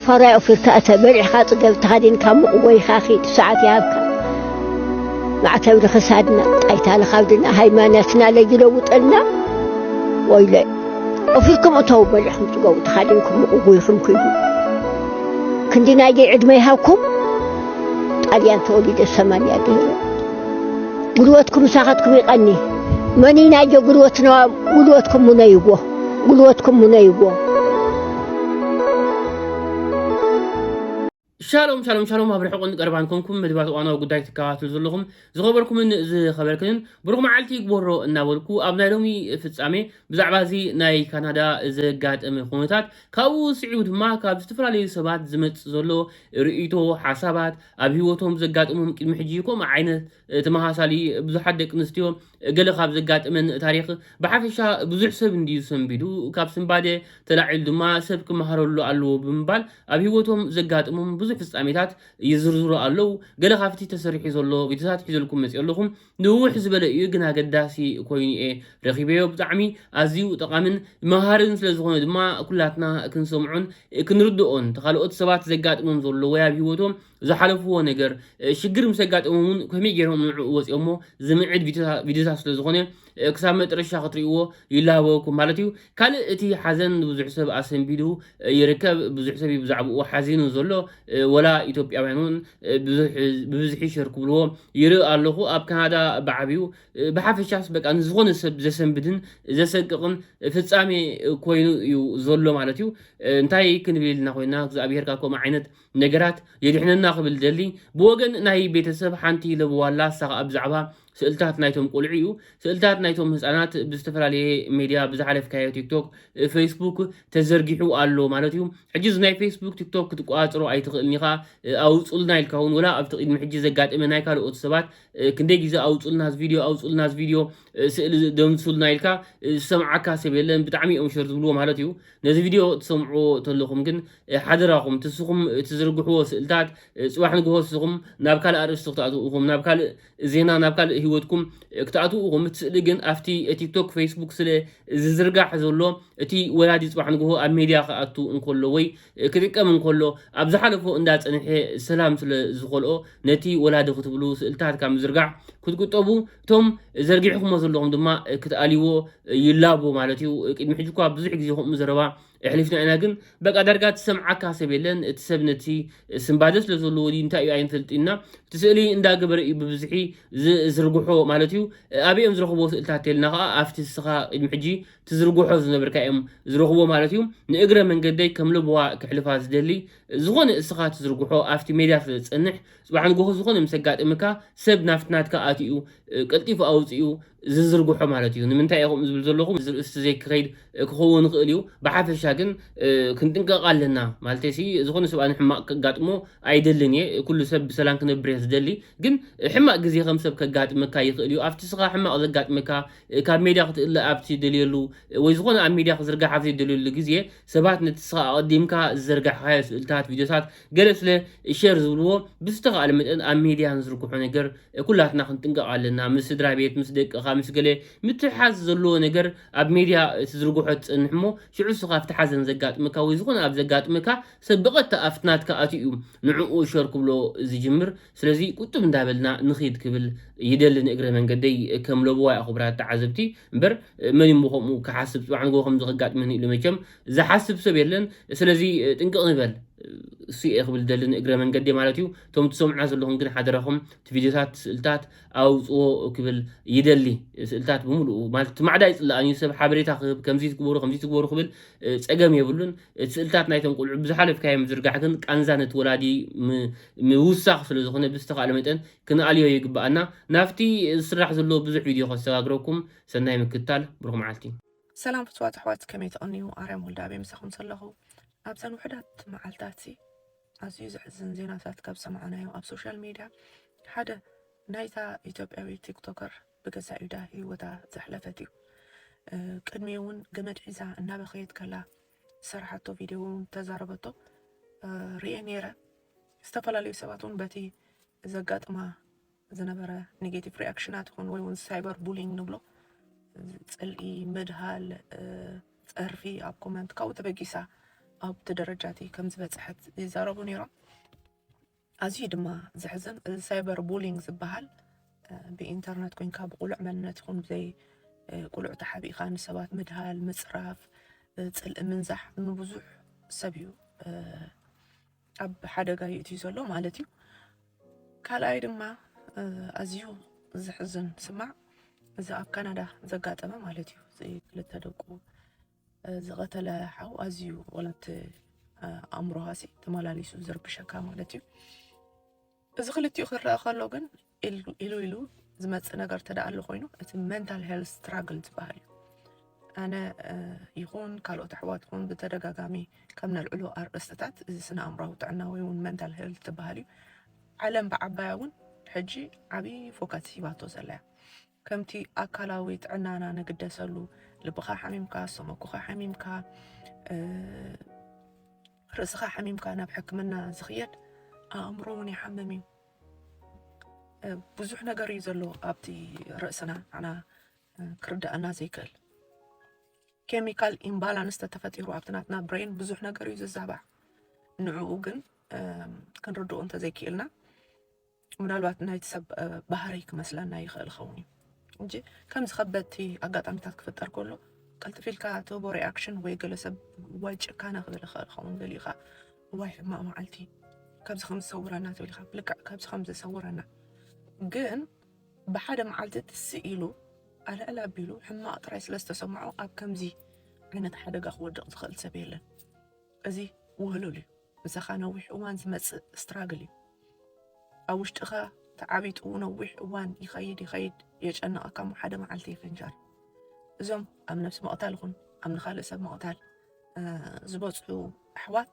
ፋራይ ኦፊርካ እተ በልዕካ ጽገብ ተኻዲንካ ሙቕ ወይኻ ኺድ ሰዓት ይሃብካ ማዕተብ ንኽሳድና ጣይታ ንኻብድና ሃይማኖትና ለይለውጠልና ወይለ ኦፊርኩም እተው በልዕኩም ጽገቡ ተኻዲንኩም ሙቕ ጎይኹም ክይዱ ክንዲ ናይ ደይ ዕድመ ይሃብኩም ጣልያን ተወሊደ ሰማንያ ገይረ ጉልበትኩም ምሳኻትኩም ይቐኒ መኒ ናይ ጀ ጉልበትና ጉልበትኩም ሙነይዎ ጉልበትኩም ሙነይዎ። ሻሎም ሻሎም ሻሎም ኣብ ርሕቁን ቀርባን ኮንኩም መድባት እዋናዊ ጉዳይ ትከታተሉ ዘለኹም ዝኸበርኩምን ዝኸበርክንን ብሩኽ መዓልቲ ይግበሮ እናበልኩ ኣብ ናይ ሎሚ ፍጻሜ ብዛዕባ እዚ ናይ ካናዳ ዘጋጠመ ኩነታት ካብኡ ስዒቡ ድማ ካብ ዝተፈላለዩ ሰባት ዝመጽእ ዘሎ ርእይቶ ሓሳባት ኣብ ህይወቶም ዘጋጥሞም ቅድሚ ሕጂ ከምኡ ዓይነት ተመሳሳሊ ብዙሓት ደቂ ኣንስትዮ ገለ ካብ ዘጋጥመን ታሪኽ ብሓፈሻ ብዙሕ ሰብ እንድዩ ሰንቢዱ፣ ካብ ስንባደ ተላዒሉ ድማ ሰብ ክመሃረሉ ኣለዎ ብምባል ኣብ ህይወቶም ዘጋጥሞም ብዙሕ ፍጻሜታት ይዝርዝሩ ኣለዉ። ገለ ካብቲ ተሰሪሑ ዘሎ ቪድዮታት ሒዘልኩም መጺኦ ኣለኹ። ንውሕ ዝበለ እዩ ግን ኣገዳሲ ኮይኑ'የ ረኺበዮ። ብጣዕሚ ኣዝዩ ጠቓምን መሃርን ስለ ዝኾነ ድማ ኩላትና ክንሰምዖን ክንርድኦን ተኻልኦት ሰባት ዘጋጥሞም ዘሎ ወይ ኣብ ህይወቶም ዝሓለፍዎ ነገር ሽግር ምስ ኣጋጠሞም እውን ከመይ ገይሮም ንዕኡ ወፂኦሞ ዝምዕድ ቪድዮታ- ቪድዮታት ስለ ዝኾነ ክሳብ መጥረሻ ክትርእይዎ ይላበወኩም ማለት እዩ ካልእ እቲ ሓዘን ንብዙሕ ሰብ ኣሰንቢዱ ይርከብ ብዙሕ ሰብ እዩ ብዛዕባኡ ሓዚኑ ዘሎ ወላ ኢትዮጵያውያን እውን ብዙሕ ብብዝሒ ሸር ክብልዎ ይርኢ ኣለኹ ኣብ ካናዳ ብዓብዩ ብሓፈሻስ በቃ ንዝኾነ ሰብ ዘሰንብድን ዘሰቅቕን ፍጻሜ ኮይኑ እዩ ዘሎ ማለት እዩ እንታይ ክንብል ኢልና ኮይና እግዚኣብሄር ካብ ከምኡ ዓይነት ነገራት የድሕነና ክብል ዝደሊ ብወገን ናይ ቤተሰብ ሓንቲ ለበዋ ኣላ እሳ ከኣ ብዛዕባ ስእልታት ናይቶም ቁልዑ እዩ ስእልታት ናይቶም ህጻናት ብዝተፈላለየ ሜድያ ብዝሓለፍካዮ ቲክቶክ ፌስቡክ ተዘርጊሑ ኣሎ ማለት እዩ ሕጂ እዚ ናይ ፌስቡክ ቲክቶክ ክትቆጻጽሮ ኣይትኽእልን ኢኻ ኣውጹልና ኢልካ እውን ወላ ኣብቲ ቅድሚ ሕጂ ዘጋጠመ ናይ ካልኦት ሰባት ክንደይ ግዜ ኣውጹልና እዚ ቪድዮ ኣውጹልና እዚ ቪድዮ ስእሊ ደምሱልና ኢልካ ዝሰምዓካ ሰብ የለን ብጣዕሚ እዮም ሸር ዝብልዎ ማለት እዩ ነዚ ቪድዮ ትሰምዑዎ ተለኹም ግን ሓደራኹም ትስኹም ትዝርግሕዎ ስእልታት ጽባሕ ንግሆ ስኹም ናብ ካልእ ኣርእስቲ ክትኣትው ኢኹም ናብ ካልእ ዜና ናብ ካልእ ህይወትኩም ክትኣትው ኢኹም እቲ ስእሊ ግን ኣብቲ ቲክቶክ ፌስቡክ ስለ ዝዝርጋሕ ዘሎ እቲ ወላዲ ጽባሕ ንግሆ ኣብ ሜድያ ክኣቱ እንከሎ ወይ ክጥቀም እንከሎ ኣብ ዝሓለፎ እንዳ ጸንሐ ሰላም ስለ ዝኸልኦ ነቲ ወላዲ ክትብሉ ስእልታት ካብ ምዝርጋሕ ክትቁጠቡ እቶም ዘርጊሕኩሞ ዘለኹም ድማ ክትኣልይዎ ይላቦ ማለት እዩ ቅድሚ ሕጂ እኳ ብዙሕ ግዜ ከምኡ ዘረባ የሕሊፍና ኢና ግን በቃ ዳርጋ ትሰምዓካ ሰብ የለን እቲ ሰብ ነቲ ስንባደ ስለ ዘለዎ ድዩ እንታይ እዩ ኣይንፈልጥና እቲ ስእሊ እንዳገበረ እዩ ብብዝሒ ዝርግሖ ማለት እዩ ኣበይ እዮም ዝረኽብዎ ስእልታት ተልና ከዓ ኣብቲ ንስኻ ቅድሚ ሕጂ ትዝርግሖ ዝነበርካ እዮም ዝረኽብዎ ማለት እዩ ንእግረ መንገደይ ከም ለበዋ ክሕልፋ ዝደሊ ዝኾነ እስኻ ትዝርግሖ ኣብቲ ሜድያ ስለ ዝጸንሕ ጽባሕ ንጎሆ ዝኾነ ምስ ዘጋጥምካ ሰብ ናብቲ ናትካ ኣትዩ ቀልጢፉ ኣውጺኡ ዝዝርግሖ ማለት እዩ። ንምንታይ እየ ከምኡ ዝብል ዘለኹ እዚ ርእስቲ ዘይክኸይድ ክኸውን ይኽእል እዩ። ብሓፈሻ ግን ክንጥንቀቕ ኣለና ማለተይሲ ዝኾነ ሰብ ኣነ ሕማቕ ከጋጥሞ ኣይደልን እየ ኩሉ ሰብ ብሰላም ክነብር እየ ዝደሊ ግን ሕማቕ ግዜ ከም ሰብ ከጋጥመካ ይኽእል እዩ ኣብቲ ስኻ ሕማቕ ዘጋጥመካ ካብ ሜድያ ክትእለ ኣብ ትደልየሉ ወይ ዝኾነ ኣብ ሜድያ ክዝርጋሕ ኣብ ዘይደልየሉ ግዜ ሰባት ነቲ ስኻ ኣቐዲምካ ዝዘርጋሕካዮ ስእልታት ቪድዮታት ገለ ስለ ሸር ዝብልዎ ብዝተኻእለ መጠን ኣብ ሜድያ ንዝርግሖ ነገር ኩላትና ክንጥንቀቕ ኣለና ምስ ስድራቤት ምስ ደቅኻ ምስ ገለ ምትሕሓዝ ዘለዎ ነገር ኣብ ሜድያ ትዝርግሖ ትጸንሕ እሞ ሽዑ እስኻ ኣብቲ ሓዘን ዘጋጥመካ ወይ ዝኾነ ኣብ ዘጋጥመካ ሰብ ብቐጥታ ኣብቲ ናትካ ኣትዩ እዩ ንዕኡ ሸር ክብሎ ዝጅምር ስለዚ ቁጥብ እንዳበልና ንኺድ ክብል ይደሊ ንእግረ መንገደይ ከም ለበዋይ ኣኹብራት ተዓዘብቲ እምበር መን እሞ ከምኡ ክሓስብ ጽባሕ ንግሆ ከምዚ ከጋጥመኒ ኢሉ መቸም ዝሓስብ ሰብ የለን ስለዚ ጥንቅቅ ንበል እሱ እየ ክብል ዝደሊ ንእግረ መንገዲ ማለት እዩ እቶም ትሰምዑና ዘለኹም ግን ሓደራኹም እቲ ቪድዮታት ስእልታት ኣውፅዎ ክብል ይደሊ ስእልታት ብምሉኡ ማለት እቲ ማዕዳ ይፅላኣን እዩ ሰብ ሓበሬታ ክህብ ከምዚ ትግበሩ ከምዚ ትግበሩ ክብል እ፣ ፀገም የብሉን እቲ ስእልታት ናይቶም ቆልዑ ብዝሓለፍካዮ ምዝርጋሕ ግን ቃንዛ ነቲ ወላዲ ም- ምውሳኽ ስለ ዝኾነ ብዝተኻእለ መጠን ክንኣልዮ ይግበኣና ናብቲ ዝስራሕ ዘሎ ብዙሕ ቪድዮ ከሰጋግረኩም ሰናይ ምክትታል ብሩኽ መዓልቲ ሰላም ፍትዋት ኣሕዋት ከመይ ትቕንዩ ኣርያም ወልደኣብየ ምሳኹም ሰለኹ ኣብዘን ውሕዳት መዓልታትሲ ኣዝዩ ዘሕዝን ዜናታት ካብ ሰማዕናዮ ኣብ ሶሻል ሚድያ ሓደ ናይታ ኢትዮጵያዊ ቲክቶከር ብገዛእ ኢዳ ህይወታ ዘሕለፈት እዩ ቅድሚ እውን ገመድ ሒዛ እናበኸየት ከላ ዝሰራሓቶ ቪድዮ እውን ተዛረበቶ ርኤ ነይረ። ዝተፈላለዩ ሰባት እውን በቲ ዘጋጥማ ዝነበረ ኔጌቲቭ ሪኣክሽናት ይኹን ወይ እውን ሳይበር ቡሊንግ ንብሎ ፅልኢ ምድሃል ፀርፊ ኣብ ኮመንት ካብኡ ተበጊሳ ኣብቲ ደረጃ እቲ ከም ዝበፅሐት ይዛረቡ ነይሮም ኣዝዩ ድማ ዘሕዝን እዚ ሳይበር ቡሊንግ ዝበሃል ብኢንተርነት ኮንካ ብቁሉዕ መንነት ይኹን ብዘይ ቁሉዕ ተሓቢእኻ ንሰባት ምድሃል ምፅራፍ ፅልኢ ምንዛሕ ንብዙሕ ሰብ እዩ ኣብ ሓደጋ ይእትዩ ዘሎ ማለት እዩ ካልኣይ ድማ ኣዝዩ ዝሕዝን ስማዕ እዚ ኣብ ካናዳ ዘጋጠመ ማለት እዩ እዚ ክልተ ደቁ ዝቐተለ ሓው ኣዝዩ ወላቲ ኣእምሮሃሲ ተመላሊሱ ዝርብሸካ ማለት እዩ እዚ ክልቲኡ ክረኣ ከሎ ግን ኢሉ ኢሉ ዝመፅእ ነገር ተደኣሉ ኮይኑ እቲ መንታል ሄልት ስትራግል ዝበሃል እዩ ኣነ ይኹን ካልኦት ኣሕዋት ኹን ብተደጋጋሚ ከም ነልዕሎ ኣርእስትታት እዚ ስነ ኣእምራዊ ጥዕና ወይ እውን መንታል ሄልት ዝበሃል እዩ ዓለም ብዓባያ እውን ሕጂ ዓብዪ ፎከስ ሂባቶ ዘላ እያ ከምቲ ኣካላዊ ጥዕናና ንግደሰሉ ልብኻ ሓሚምካ ሰመኩኻ ሓሚምካ ርእስኻ ሓሚምካ ናብ ሕክምና ዝኽየድ ኣእምሮ እውን ይሓምም እዩ ብዙሕ ነገር እዩ ዘሎ ኣብቲ ርእስና ንዓና ክርዳእና ዘይክእል ኬሚካል ኢምባላንስ ተተፈጢሩ ኣብቲ ናትና ብሬን ብዙሕ ነገር እዩ ዝዛባዕ ንዕኡ ግን ክንርድኦ እንተዘይክኢልና ምናልባት ናይቲ ሰብ ባህርይ ክመስለና ይኽእል ይኸውን እዩ እንጂ ከምዚ ከበድቲ ኣጋጣሚታት ክፍጠር ከሎ ቀልጥፍ ኢልካ ትህቦ ሪኣክሽን ወይ ገለ ሰብ ዋይ ጭካነ ክብል ይኽእል ይኸውን ገሊኡ ከዓ ዋይ ሕማቕ መዓልቲ ካብዚ ከም ዝሰውረና ትብል ኢኻ ብልክዕ ካብዚ ከም ዝሰውረና ግን ብሓደ መዓልቲ ትስ ኢሉ ኣልዕል ኣቢሉ ሕማቕ ጥራይ ስለ ዝተሰምዖ ኣብ ከምዚ ዓይነት ሓደጋ ክወድቕ ዝኽእል ሰብ የለን እዚ ውህሉል እዩ ምሳኻ ነዊሕ እዋን ዝመጽእ ስትራግል እዩ ኣብ ውሽጥኻ ተዓቢጡ ነዊሕ እዋን ይኸይድ ይኸይድ የጨንቐካ እሞ ሓደ መዓልቲ ይፍንጃር እዞም ኣብ ነብሲ መቕታል ይኹን ኣብ ንካልእ ሰብ መቕታል ዝበፅሑ ኣሕዋት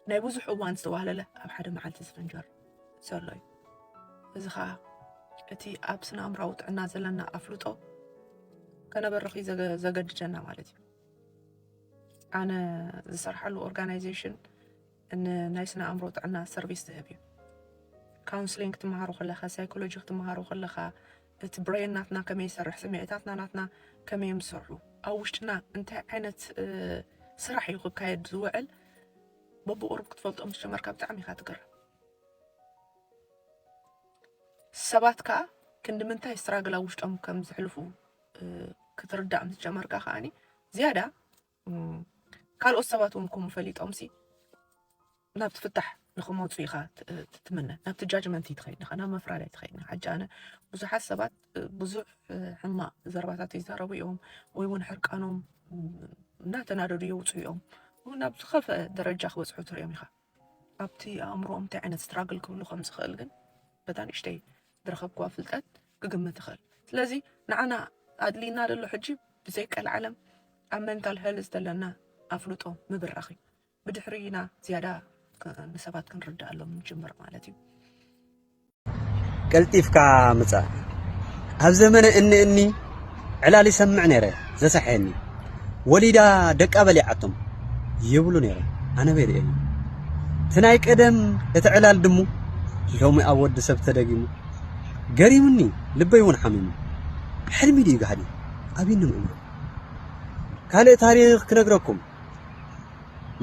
ናይ ብዙሕ እዋን ዝተዋህለለ ኣብ ሓደ መዓልቲ ዝፍንጀር ዘሎ እዩ እዚ ከዓ እቲ ኣብ ስነ ኣምራዊ ጥዕና ዘለና ኣፍልጦ ከነበርኽ ዘገድደና ማለት እዩ ኣነ ዝሰርሓሉ ኦርጋናይዜሽን ንናይ ስነ ኣእምሮ ጥዕና ሰርቪስ ዝህብ እዩ ካውንስሊንግ ክትመሃሩ ከለኻ ሳይኮሎጂ ክትመሃሩ ከለኻ እቲ ብሬን ናትና ከመይ ይሰርሕ ስምዒታትና ናትና ከመይ እዮም ዝሰርሑ ኣብ ውሽጥና እንታይ ዓይነት ስራሕ እዩ ክካየድ ዝውዕል በብቁርብ ክትፈልጦ ምስ ጀመርካ ብጣዕሚ ኢኻ ትገርም ሰባት ከዓ ክንዲ ምንታይ ስትራግል ኣብ ውሽጦም ከም ዝሕልፉ ክትርዳእ ምስ ጀመርካ ከዓኒ ዝያዳ ካልኦት ሰባት እውን ከምኡ ፈሊጦምሲ ናብቲ ፍታሕ ንክመፁ ኢኻ ትምነ ናብቲ ጃጅመንት ይትኸይድ ኢኻ ናብ መፍራድ ኣይትኸይድ ኢኻ ሕጂ ኣነ ብዙሓት ሰባት ብዙሕ ሕማቅ ዘረባታት ይዛረቡ እዮም ወይ እውን ሕርቃኖም እናተናደዱ የውፅኡ እዮም ናብ ዝኸፍአ ደረጃ ክበፅሑ ትሪኦም ኢኻ ኣብቲ ኣእምሮኦም እንታይ ዓይነት ስትራግል ክብሉ ከም ዝኽእል ግን በታ ንእሽተይ ዝረኸብክዋ ፍልጠት ክግምት ይኽእል ስለዚ ንዓና ኣድልይና ደሎ ሕጂ ብዘይ ቀልዓለም ኣብ መንታል ሄልዝ ዘለና ኣፍልጦ ምብራኽ እዩ ብድሕሪና ዝያዳ ንሰባት ክንርዳኣሎም ንጅምር ማለት እዩ ቀልጢፍካ ምጻእ ኣብ ዘመነ እኒ እኒ ዕላል ይሰምዕ ነይረ ዘሰሐየኒ ወሊዳ ደቃ በሊዓቶም ይብሉ ነይረ ኣነ በይርኤኒ እቲ ናይ ቀደም እቲ ዕላል ድሙ ሎሚ ኣብ ወዲ ሰብ ተደጊሙ ገሪሙኒ ልበይ እውን ሓሚሙ ሕልሚ ድዩ ጋህዲ ኣብኒ ምእማን ካልእ ታሪኽ ክነግረኩም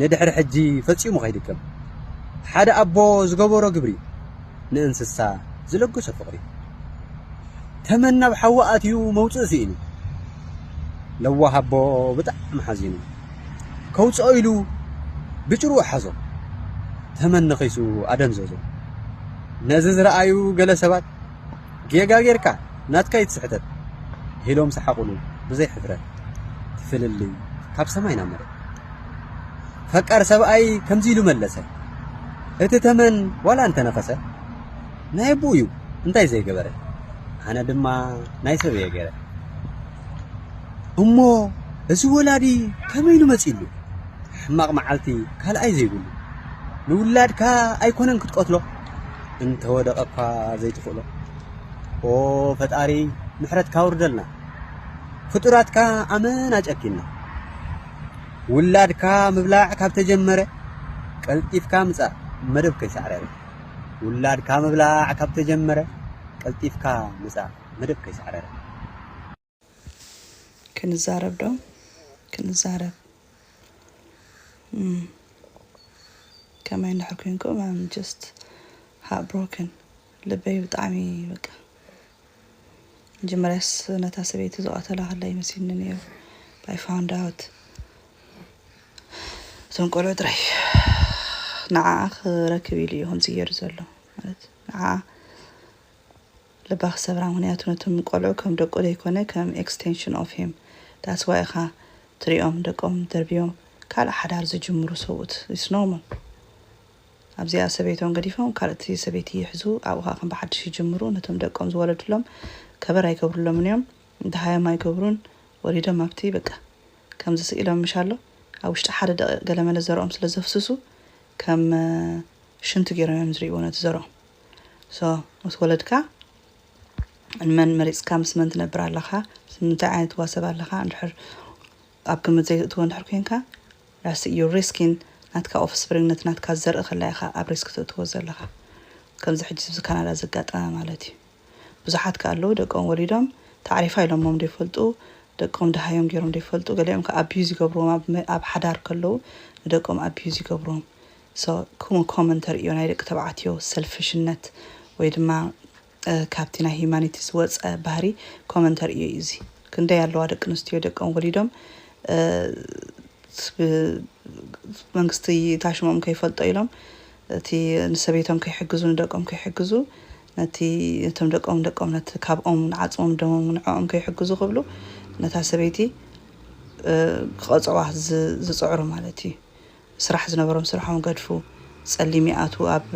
ንድሕሪ ሕጂ ፈጺሙ ከይድገም ሓደ ኣቦ ዝገበሮ ግብሪ ንእንስሳ ዝለገሶ ፍቕሪ ተመን ናብ ሓዊ ኣትዩ መውጽእ ስኢኑ ለዋህ ኣቦ ብጣዕሚ ሓዚኑ ከውጽኦ ኢሉ ብጭርኡ ሓዞ ተመን ነኺሱ ኣደንዘዞ ነዚ ዝረኣዩ ገለ ሰባት ጌጋ ጌርካ ናትካ እዩ እቲ ስሕተት ኢሎም ሰሓቑሉ ብዘይ ሕፍረት ፍልልይ ካብ ሰማይ ናብ መሬት ፈቃር ሰብኣይ ከምዚ ኢሉ መለሰ እቲ ተመን ዋላ እንተነኸሰ ናይ ኣቦኡ እዩ እንታይ ዘይገበረ ኣነ ድማ ናይ ሰብ እየ ገይረ እሞ እዚ ወላዲ ከመይ ኢሉ መፂሉ ሕማቕ መዓልቲ ካልኣይ ዘይብሉ ንውላድካ ኣይኮነን ክትቀትሎ እንተወደቀ እኳ ዘይትኽእሎ ኦ ፈጣሪ ምሕረትካ ኣውርደልና ፍጡራትካ ኣመና ጨኪና ውላድካ ምብላዕ ካብ ተጀመረ ቀልጢፍካ ምጻእ መደብ ከይሳዕረረ ውላድካ ምብላዕ ካብ ተጀመረ ቀልጢፍካ ምጻእ መደብ ከይሳዕረረ ክንዛረብ ዶ ክንዛረብ ከማይ እንድሕር ኮንኩ ኣም ጀስት ሃርት ብሮክን ልበይ ብጣዕሚ በቃ መጀመርያስ ነታ ሰበይቲ ዝቐተላ ከላ ይመስልኒ ነይሩ ባይ ፋውንድ ኣውት እቶም ቆልዑ ጥራይ ንዓኣ ክረክብ ኢሉ እዩ ከምዚ ገይሩ ዘሎ ማለት ንዓኣ ልባ ክሰብራ ምክንያቱ ነቶም ቆልዑ ከም ደቁ ደይኮነ ከም ኤክስተንሽን ኦፍ ሂም ዳትስ ዋይ ኢካ ትሪኦም ደቆም ደርብዮም ካልእ ሓዳር ዝጅምሩ ሰብኡት ኢትስ ኖርማል ኣብዚኣ ሰበይቶም ገዲፎም ካልእቲ ሰበይቲ ይሕዙ ኣብኡ ከኣ ከም ብሓድሽ ይጅምሩ ነቶም ደቆም ዝወለድሎም ከበር ኣይገብርሎምን እዮም ደሃዮም ኣይገብሩን ወሊዶም ኣብቲ በቃ ከምዚ ስኢሎም ምሽ ኣሎ ኣብ ውሽጢ ሓደ ደቂቅ ገለመለ ዘርኦም ስለ ዘፍስሱ ከም ሽንቲ ገይሮም እዮም ዝሪእዎ ነቲ ዘርኦም። so ምስ ወለድካ ንመን መሪጽካ ምስ መን ትነብር ኣለኻ ምስ ምንታይ ዓይነት ትዋሰብ ኣለኻ እንድሕር ኣብ ግምት ዘይትእትዎ እንድሕር ኮንካ ራሲ ዩ ሪስኪን ናትካ ኦፍስፕሪንግ ነቲ ናትካ ዘርኢ ከላ ኢኻ ኣብ ሪስክ ትእትዎ ዘለኻ ከምዚ ሕጂ ስብዚ ካናዳ ዘጋጠመ ማለት እዩ ብዙሓት ከ ኣለዉ ደቆም ወሊዶም ታዕሪፋ ኢሎሞም ዘይፈልጡ ደቆም ደሃዮም ገይሮም ዘይፈልጡ ገሊኦም ከ ኣቢዩዝ ይገብርዎም ኣብ ሓዳር ከለዉ ንደቆም ኣቢዩዝ ይገብርዎም So ክምኡ ኮመን ተርእዮ ናይ ደቂ ተባዕትዮ ሰልፍሽነት ወይ ድማ ካብቲ ናይ ሂዩማኒቲ ዝወጸ ባህሪ ኮመን ተርእዮ እዩ እዚ ክንደይ ኣለዋ ደቂ ኣንስትዮ ደቀም ወሊዶም መንግስቲ ታሽሞም ከይፈልጦ ኢሎም እቲ ንሰበይቶም ከይሕግዙ ንደቆም ከይሕግዙ ነቲ ነቶም ደቆም ደቆም ነቲ ካብኦም ንዓጽሞም ደሞም ንዕኦም ከይሕግዙ ክብሉ ነታ ሰበይቲ ክቐጽዕዋ ዝጽዕሩ ማለት እዩ ስራሕ ዝነበሮም ስርሖም ገድፉ ፀሊም ይኣትዉ ኣብ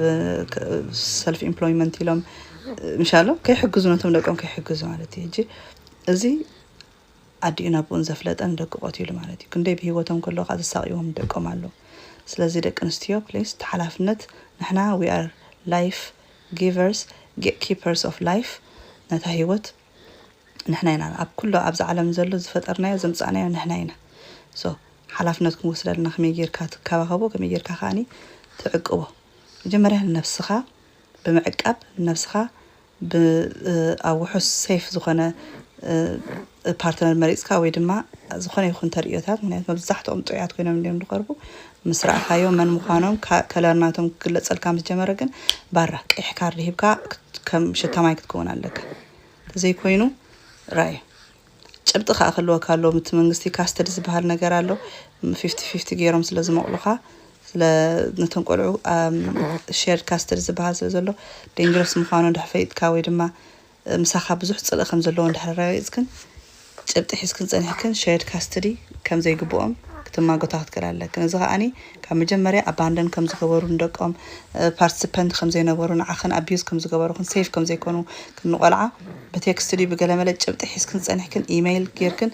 ሰልፍ ኢምፕሎይመንት ኢሎም ምሻሎ ከይሕግዙ ነቶም ደቆም ከይሕግዙ ማለት እዩ ሕጂ እዚ ኣዲኡን ኣቦኡን ዘፍለጠን ደቂ ቆቲሉ ማለት እዩ ክንደይ ብሂወቶም ከሎ ከዓ ዝሳቅዎም ደቆም ኣሎ ስለዚ ደቂ ኣንስትዮ ፕሊስ ተሓላፍነት ንሕና ዊ ኣር ላይፍ ጊቨርስ ጌት ኪፐርስ ኦፍ ላይፍ ነታ ሂወት ንሕና ኢና ኣብ ኩሉ ኣብዛ ዓለም ዘሎ ዝፈጠርናዮ ዘምጻእናዮ ንሕና ኢና so ሓላፍነት ክንወስድ ኣለና ከመይ ጌርካ ትካባከቦ ከመይ ጌርካ ከኣኒ ትዕቅቦ መጀመርያ ንነብስካ ብምዕቃብ ንነብስካ ብ ኣብ ውሑስ safe ዝኮነ ፓርትነር መሪጽካ ወይ ድማ ዝኮነ ይኩን ተርእዮታት ምክንያቱ መብዛሕትኦም ጥዑያት ኮይኖም እንድዮም ዝቀርቡ ምስ ረኣኻዮ መን ምዃኖም ከለር ናቶም ክግለጸልካ ምስ ጀመረ ግን ባራ ቀይሕ ካርድ ሂብካ ከም ሽታ ማይ ክትከውን ኣለካ ተዘይኮይኑ ራዩ ጭብጢ ከዓ ክህልወካ ኣለዎ ምቲ መንግስቲ ካስተዲ ዝበሃል ነገር ኣሎ ፊፍቲ ፊፍቲ ገይሮም ስለ ዝመቕሉኻ ስለ ነቶም ቆልዑ ሼር ካስተዲ ዝበሃል ስለ ዘሎ ዴንጀረስ ምዃኑ እንድሕር ፈሊጥካ ወይ ድማ ምሳኻ ብዙሕ ጽልኢ ከም ዘለዎ እንድሕር ኣረጋጊጽክን ጭብጢ ሒዝክን ጸኒሕክን ሸርድ ካስትዲ ከም ዘይግብኦም ክትማጎታ ክትክእላ ኣለክን። እዚ ከኣ ካብ መጀመርያ ኣባንደን ከም ዝገበሩ ንደቆም ፓርትስፐንት ከም ዘይነበሩ ንዓኽን ኣቢዩዝ ከም ዝገበሩክን ሴፍ ከም ዘይኮኑ ክን ንቆልዓ ብቴክስት ድዩ ብገለመለ ጭብጢ ሒዝክን ጸኒሕክን ኢመይል ጌርክን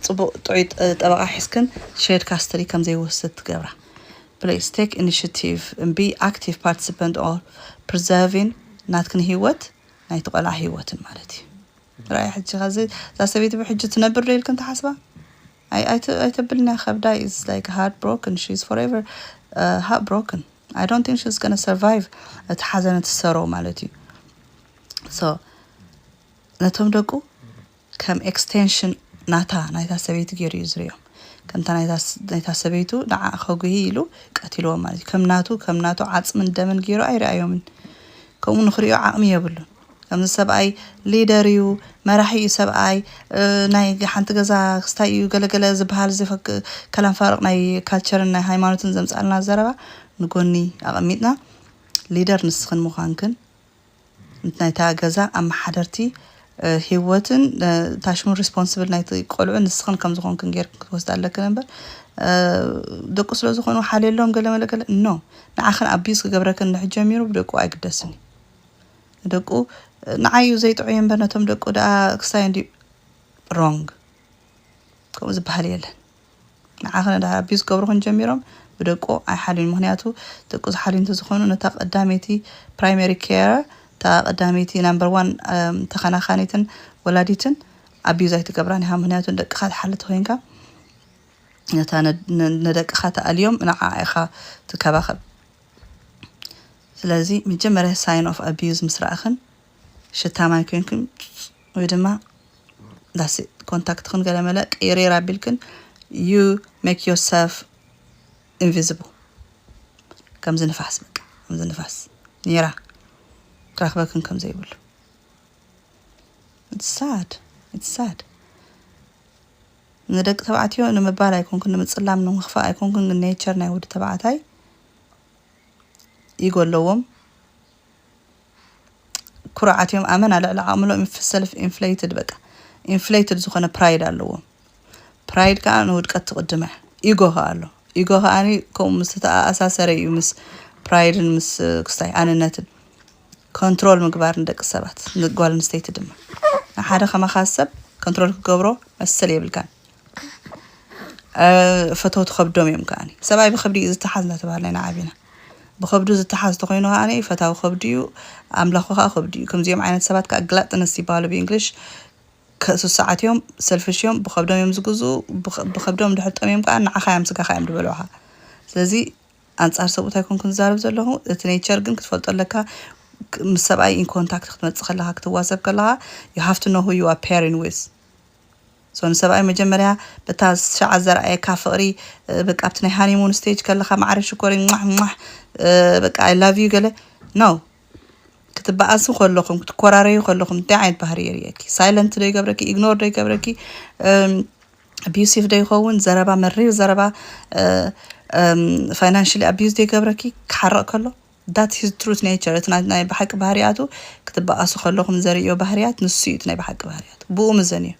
ጽቡቕ ጥዑይ ጠበቓ ሒዝክን ሸርድ ካስትዲ ከም ዘይወስድ ትገብራ። ፕሊስ ቴክ ኢኒሽቲቭ ን ቢ ኣክቲቭ ፓርቲስፐንት ኦፍ ፕሪዘርቪን ናትክን ሂወት ናይቲ ቆልዓ ሂወትን ማለት እዩ ረኣያ ሕጂ ከዚ እዛ ሰበይቲ ብሕጂ ትነብር ዶ ኢልክን ትሓስባ ኣይ ኣይተብልና ከብዳ ኢዝ ላይክ ሃርት ብሮክን ሺ ኢዝ ፎርኤቨር ሃርት ብሮክን ኣይ ዶንት ቲንክ ሺ ኢዝ ጎና ሰርቫይቭ እቲ ሓዘን እቲ ሰሮ ማለት እዩ ሶ ነቶም ደቁ ከም ኤክስቴንሽን ናታ ናይታ ሰበይቲ ጌሩ እዩ ዝሪኦም ከምታ ናይታ ናይታ ሰበይቱ ንዓ ከጉህይ ኢሉ ቀቲልዎም ማለት እዩ ከም ናቱ ከም ናቱ ዓጽምን ደምን ጌሩ ኣይርኣዮምን ከምኡ ንክሪኦ ዓቅሚ የብሉን ከምዚ ሰብኣይ ሊደር እዩ መራሒ እዩ ሰብኣይ ናይ ሓንቲ ገዛ ክስታይ እዩ ገለገለ ዝበሃል ዘፈክ ከላም ፋርቅ ናይ ካልቸርን ናይ ሃይማኖትን ዘምጻልና ዘረባ ንጎኒ ኣቀሚጥና ሊደር ንስክን ምዃንክን ናይታ ገዛ ኣመሓደርቲ ሂወትን እታ ሽሙ ሪስፖንስብል ናይቲ ቆልዑ ንስኽን ከም ዝኾንክን ጌርክን ክትወስዳ ኣለክን እምበር ደቁ ስለ ዝኾኑ ሓልየሎም ገለ መለ ገለ ኖ ንዓኽን ኣቢዩዝ ክገብረክን ንሕ ጀሚሩ ብደቁ ኣይግደስን እዩ ንደቁ ንዓዩ ዘይጥዑይ እምበር ነቶም ደቁ ደኣ ክስታይ እንዲ ሮንግ ከምኡ ዝበሃል የለን ንዓኽን ድሃ ኣቢዩዝ ክገብሩኽን ጀሚሮም ብደቁ ኣይሓልዩን ምኽንያቱ ደቁ ዝሓልዩ እንተዝኾኑ ነታ ቀዳመይቲ ፕራይመሪ ኬር እታ ቀዳመይቲ ናምበር ዋን ተኸናኻኒትን ወላዲትን ኣቢዩዝ ኣይትገብራን ኢኻ ምኽንያቱ ንደቅኻ ትሓሊ ተኾይንካ ነታ ንደቅኻ ተኣልዮም ንዓኣ ኢኻ ትከባኸብ ስለዚ መጀመርያ ሳይን ኦፍ ኣቢዩዝ ምስ ረኣኽን ሽታ ማይ ኮይንክን ወይ ድማ ዳስ ኮንታክትክን ገለመለ ቅይርይር ኣቢልክን ዩ ሜክ ዮር ሰልፍ ኢንቪዚብል ከምዚ ንፋስ በቃ ከምዚ ንፋስ ኔራ ክረክበክን ከም ዘይብሉ ሳድ ሳድ ንደቂ ተባዕትዮ ንምባል ኣይኮንኩን ንምፅላም ንምኽፋእ ኣይኮንኩን ግን ኔቸር ናይ ወዲ ተባዕታይ ኢጎ ኣለዎም ኩሩዓት እዮም ኣመና ልዕሊ ዓቅምሎም እዮም ሰልፍ ኢንፍለይትድ በቃ ኢንፍለይትድ ዝኮነ ፕራይድ ኣለዎም ፕራይድ ከኣ ንውድቀት ትቅድመ ኢጎ ከኣ ኣሎ ኢጎ ከኣ ከምኡ ምስ ዝተኣሳሰረ እዩ ምስ ፕራይድን ምስ ክስታይ ኣንነትን ኮንትሮል ምግባር ንደቂ ሰባት ንጓል ኣንስተይቲ ድማ ንሓደ ከማኻ ሰብ ኮንትሮል ክገብሮ መሰል የብልካን ፈተውቲ ከብዶም እዮም ከዓኒ ሰብኣይ ብከብዲ እዩ ዝተሓዝ እናተባህለ ኢና ዓቢና ብከብዱ ዝተሓዝ ተኮይኑ ከዓኒ ፈታዊ ከብዲ እዩ ኣምላኹ ከዓ ከብዲ እዩ ከምዚኦም ዓይነት ሰባት ከዓ ግላጥነስ ይበሃሉ ብእንግሊሽ ስሱዓት እዮም ሰልፍሽ እዮም ብከብዶም እዮም ዝግዝኡ ብከብዶም ድሕር ጠምዮም ከዓ ንዓኻ እዮም ስጋኻ እዮም ዝበልዑኻ ስለዚ ኣንጻር ሰብኡት ኣይኮንኩን ዝዛረብ ዘለኹ እቲ ኔቸር ግን ክትፈልጦ ኣለካ ምስ ሰብኣይ ኢን ኮንታክት ክትመፅእ ከለካ ክትዋሰብ ከለካ ዩ ሃፍቲ ኖ ሁ ዩ ኣር ፔሪን ዊዝ ሶኒ ሰብኣይ መጀመርያ በታ ሻዓ ዘርኣየካ ፍቅሪ በቃ ኣብቲ ናይ ሃኒሙን ስቴጅ ከለካ ማዕረ ሽኮሪ ሟሕ ሟሕ በቃ ኣይ ላቭ ዩ ገለ ኖው ክትበኣሱ ከለኹም ክትኮራረዩ ከለኹም እንታይ ዓይነት ባህሪ የርእየኪ? ሳይለንት ዶ ይገብረኪ? ኢግኖር ዶ ይገብረኪ? ኣቢዩሲቭ ዶ ይኸውን? ዘረባ መሪር ዘረባ ፋይናንሽሊ ኣቢዩዝ ዶ ይገብረኪ? ክሓርቕ ከሎ That his truth nature እቲ ናይ ብሓቂ ባህርያቱ ክትባኣሱ ከለኹም ዘርእዮ ባህርያት ንሱ እዩ እቲ ናይ ብሓቂ ባህርያቱ ብኡ ምዘንዮ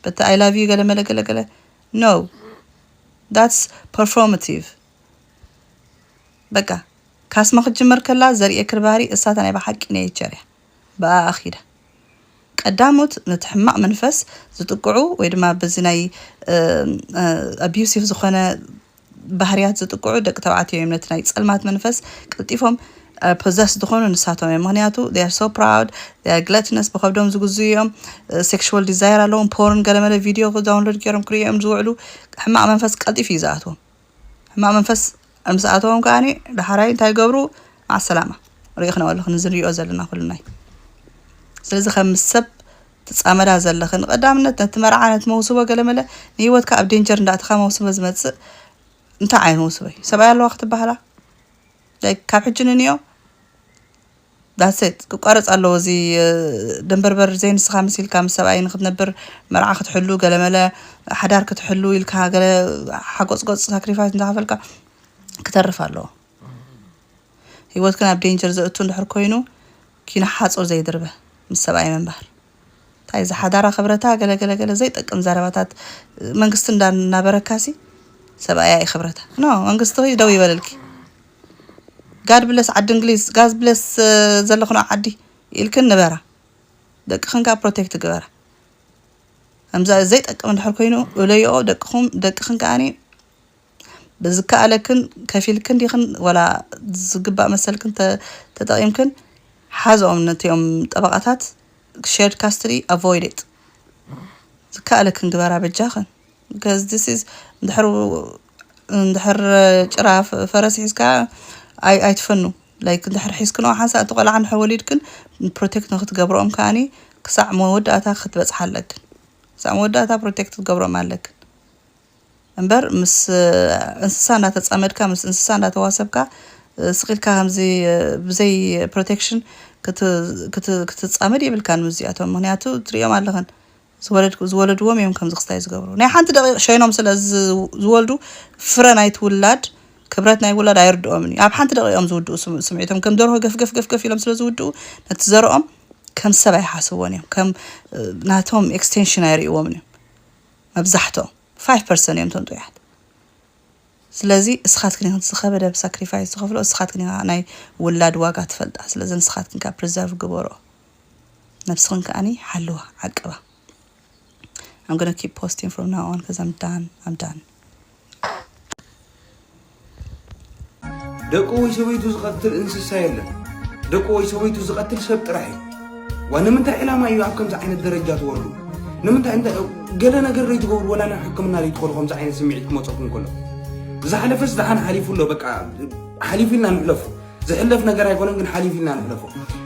በቲ I love you ገለመለ ገለገለ no that's performative በቃ ካስማ ክትጅመር ከላ ዘርእየክር ባህሪ እሳ እታ ናይ ብሓቂ nature እያ ብኣኣ ኪዳ ቀዳሞት ነቲ ሕማቕ መንፈስ ዝጥቅዑ ወይ ድማ በዚ ናይ ኣቢዩሲቭ ዝኾነ ባህርያት ዝጥቅዑ ደቂ ተባዕትዮ እዮም ነቲ ናይ ጸልማት መንፈስ ቀልጢፎም ፖዘስ ዝኾኑ ንሳቶም እዮም ምክንያቱ they are so proud they are gluttonous ብከብዶም ዝግዝኡ እዮም ሴክሹዋል ዲዛይር ኣለዎም ፖርን ገለመለ ቪድዮ ዳውንሎድ ገይሮም ክሪኦ እዮም ዝውዕሉ ሕማቅ መንፈስ ቀልጢፍ እዩ ዝኣትዎም ሕማቅ መንፈስ ምስ ኣተዎም ከዓ ዳሓራይ እንታይ ገብሩ ማዓሰላማ ሪእክናኦ ኣለኹ ንዚ ንሪኦ ዘለና ኩልና እዩ ስለዚ ከም ሰብ ትጻመዳ ዘለኺ ንቀዳምነት ነቲ መርዓ ነቲ መውስቦ ገለመለ ንሂወትካ ኣብ ዴንጀር እንዳእተኻ መውስቦ ዝመጽእ እንታይ ዓይነት መውስቦ እዩ ሰብኣይ ኣለዋ ክትበሃላ ላይክ ካብ ሕጂ ንንዮ ዳሴት ክቋረጽ ኣለዎ እዚ ደንበርበር ዘይንስኻ መሲልካ ምስ ሰብኣይ ንክትነብር መርዓ ክትሕሉ ገለመለ ሓዳር ክትሕሉ ኢልካ ገለ ሓጎጽጎጽ ሳክሪፋይስ እንዳኸፈልካ ክተርፍ ኣለዎ ሂወትክን ኣብ ዴንጀር ዘእቱ እንድሕር ኮይኑ ኪኖ ሓፁር ዘይድርበ ምስ ሰብኣይ ምንባር ታይ እዛ ሓዳራ ክብረታ ገለ ገለ ገለ ዘይጠቅም ዘረባታት መንግስቲ እንዳ እናበረካሲ ሰብኣያ እዩ ክብረታ ኖ መንግስቲ ደው ይበልልኪ ጋድ ብለስ ዓዲ እንግሊዝ ጋዝ ብለስ ዘለኽኖ ዓዲ ኢልክን ንበራ ደቅኽን ከዓ ፕሮቴክት ግበራ ከምዛ ዘይጠቅም እንድሕር ኮይኑ እለይኦ ደቅኹም ደቅኽን ከዓኒ ብዝከኣለክን ከፊልክን ዲክን ወላ ዝግባእ መሰልክን ተጠቂምክን ሓዝኦም ነቲኦም ጠበቃታት ሼርድ ካስትዲ ኣቮይድ ኢት ዝከኣለክን ግበራ በጃክን because this is እንድሕር እንድሕር ጭራ ፈረስ ሒዝካ ኣይ ኣይትፈኑ ላይክ እንድሕር ሒዝክንኦ ሓንሳእ እቲ ቆልዓ እንድሕር ወሊድክን ፕሮቴክት ንክትገብርኦም ከዓኒ ክሳዕ መወዳእታ ክትበፅሓ ኣለክን ክሳዕ መወዳእታ ፕሮቴክት ክትገብሮም ኣለክን እምበር ምስ እንስሳ እንዳተጻመድካ ምስ እንስሳ እንዳተዋሰብካ ስቅ ኢልካ ከምዚ ብዘይ ፕሮቴክሽን ክትጻመድ የብልካን ምስ እዚኣቶም ምክንያቱ ትርእዮም ኣለኽን ዝወለድ ዝወለድዎም እዮም ከምዚ ክስታይ ዝገብሩ ናይ ሓንቲ ደቂቅ ሸይኖም ስለ ዝወልዱ ፍረ ናይቲ ውላድ ክብረት ናይ ውላድ ኣይርድኦምን እዩ ኣብ ሓንቲ ደቂቅ እዮም ዝውድኡ ስምዒቶም ከም ደርሆ ገፍገፍ ገፍገፍ ኢሎም ስለ ዝውድኡ ነቲ ዘርኦም ከም ሰብ ኣይሓስብዎን እዮም ከም ናቶም ኤክስቴንሽን ኣይርእይዎምን እዮም መብዛሕትኦም ፋይፍ ፐርሰን እዮም እቶም ጥዑያት ስለዚ እስኻትክን ኢኽን ዝኸበደ ሳክሪፋይስ ዝኸፍሎ እስኻትክን ኢኻ ናይ ውላድ ዋጋ ትፈልጣ ስለዚ ንስኻትክን ከኣ ፕሪዘርቭ ግበሮ ነብስኽን ከኣኒ ሓልዋ ዓቅባ I'm gonna keep posting from now on because I'm done I'm done ደቁ ወይ ሰበይቱ ዝቐትል እንስሳ የለን። ደቁ ወይ ሰበይቱ ዝቐትል ሰብ ጥራሕ እዩ። ዋ ንምንታይ ዕላማ እዩ ኣብ ከምዚ ዓይነት ደረጃ ትወርዱ? ንምንታይ እንተ ገለ ነገር ዘይትገብሩ ወላ ናብ ሕክምና ዘይትኸዱ ከምዚ ዓይነት ስምዒት ክመፀኩም ከሎ ዝሓለፈስ ደሓን ሓሊፉ ኣሎ በቃ ሓሊፉ ኢልና ንሕለፉ። ዝሕለፍ ነገር ኣይኮነን ግን ሓሊፉ ኢልና ንሕለፎ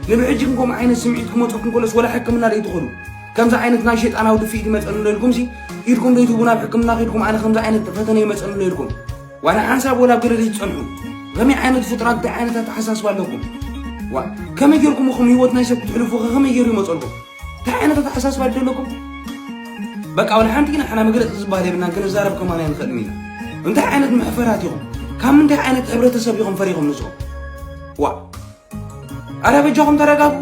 ንብሕጂ ግን ከምኡ ዓይነት ስምዒት ክመፀኩም ከሎስ ወላ ሕክምና ዘይትኸዱ ከምዚ ዓይነት ናይ ሸይጣናዊ ድፍኢት ይመፀኒ ዶ ኢልኩምሲ ኢድኩም ዶ ይትህቡ ናብ ሕክምና ከይድኩም ኣነ ከምዚ ዓይነት ፈተነ ይመፀኒ ዶ ኢልኩም ዋላ ሓንሳብ ወላ ኣብ ገደል ዝፀንሑ ከመይ ዓይነት ፍጡራት እንታይ ዓይነት ኣተሓሳስባ ኣለኩም ዋ ከመይ ጌርኩም እኹም ህይወት ናይ ሰብ ክትሕልፉ ከ ከመይ ገይሩ ይመፀልኩም እንታይ ዓይነት ኣተሓሳስባ ድዩ ዘለኩም? በቃ ወላ ሓንቲ ግን ሓና መግለፂ ዝበሃል የብልና ክንዛረብ ከማን ኣይንኽእልን ኢና። እንታይ ዓይነት መሕፈራት ኢኹም? ካብ ምንታይ ዓይነት ሕብረተሰብ ኢኹም ፈሪኹም ንስኹም? ዋ ኣረ በጃኹም ተረጋጉ፣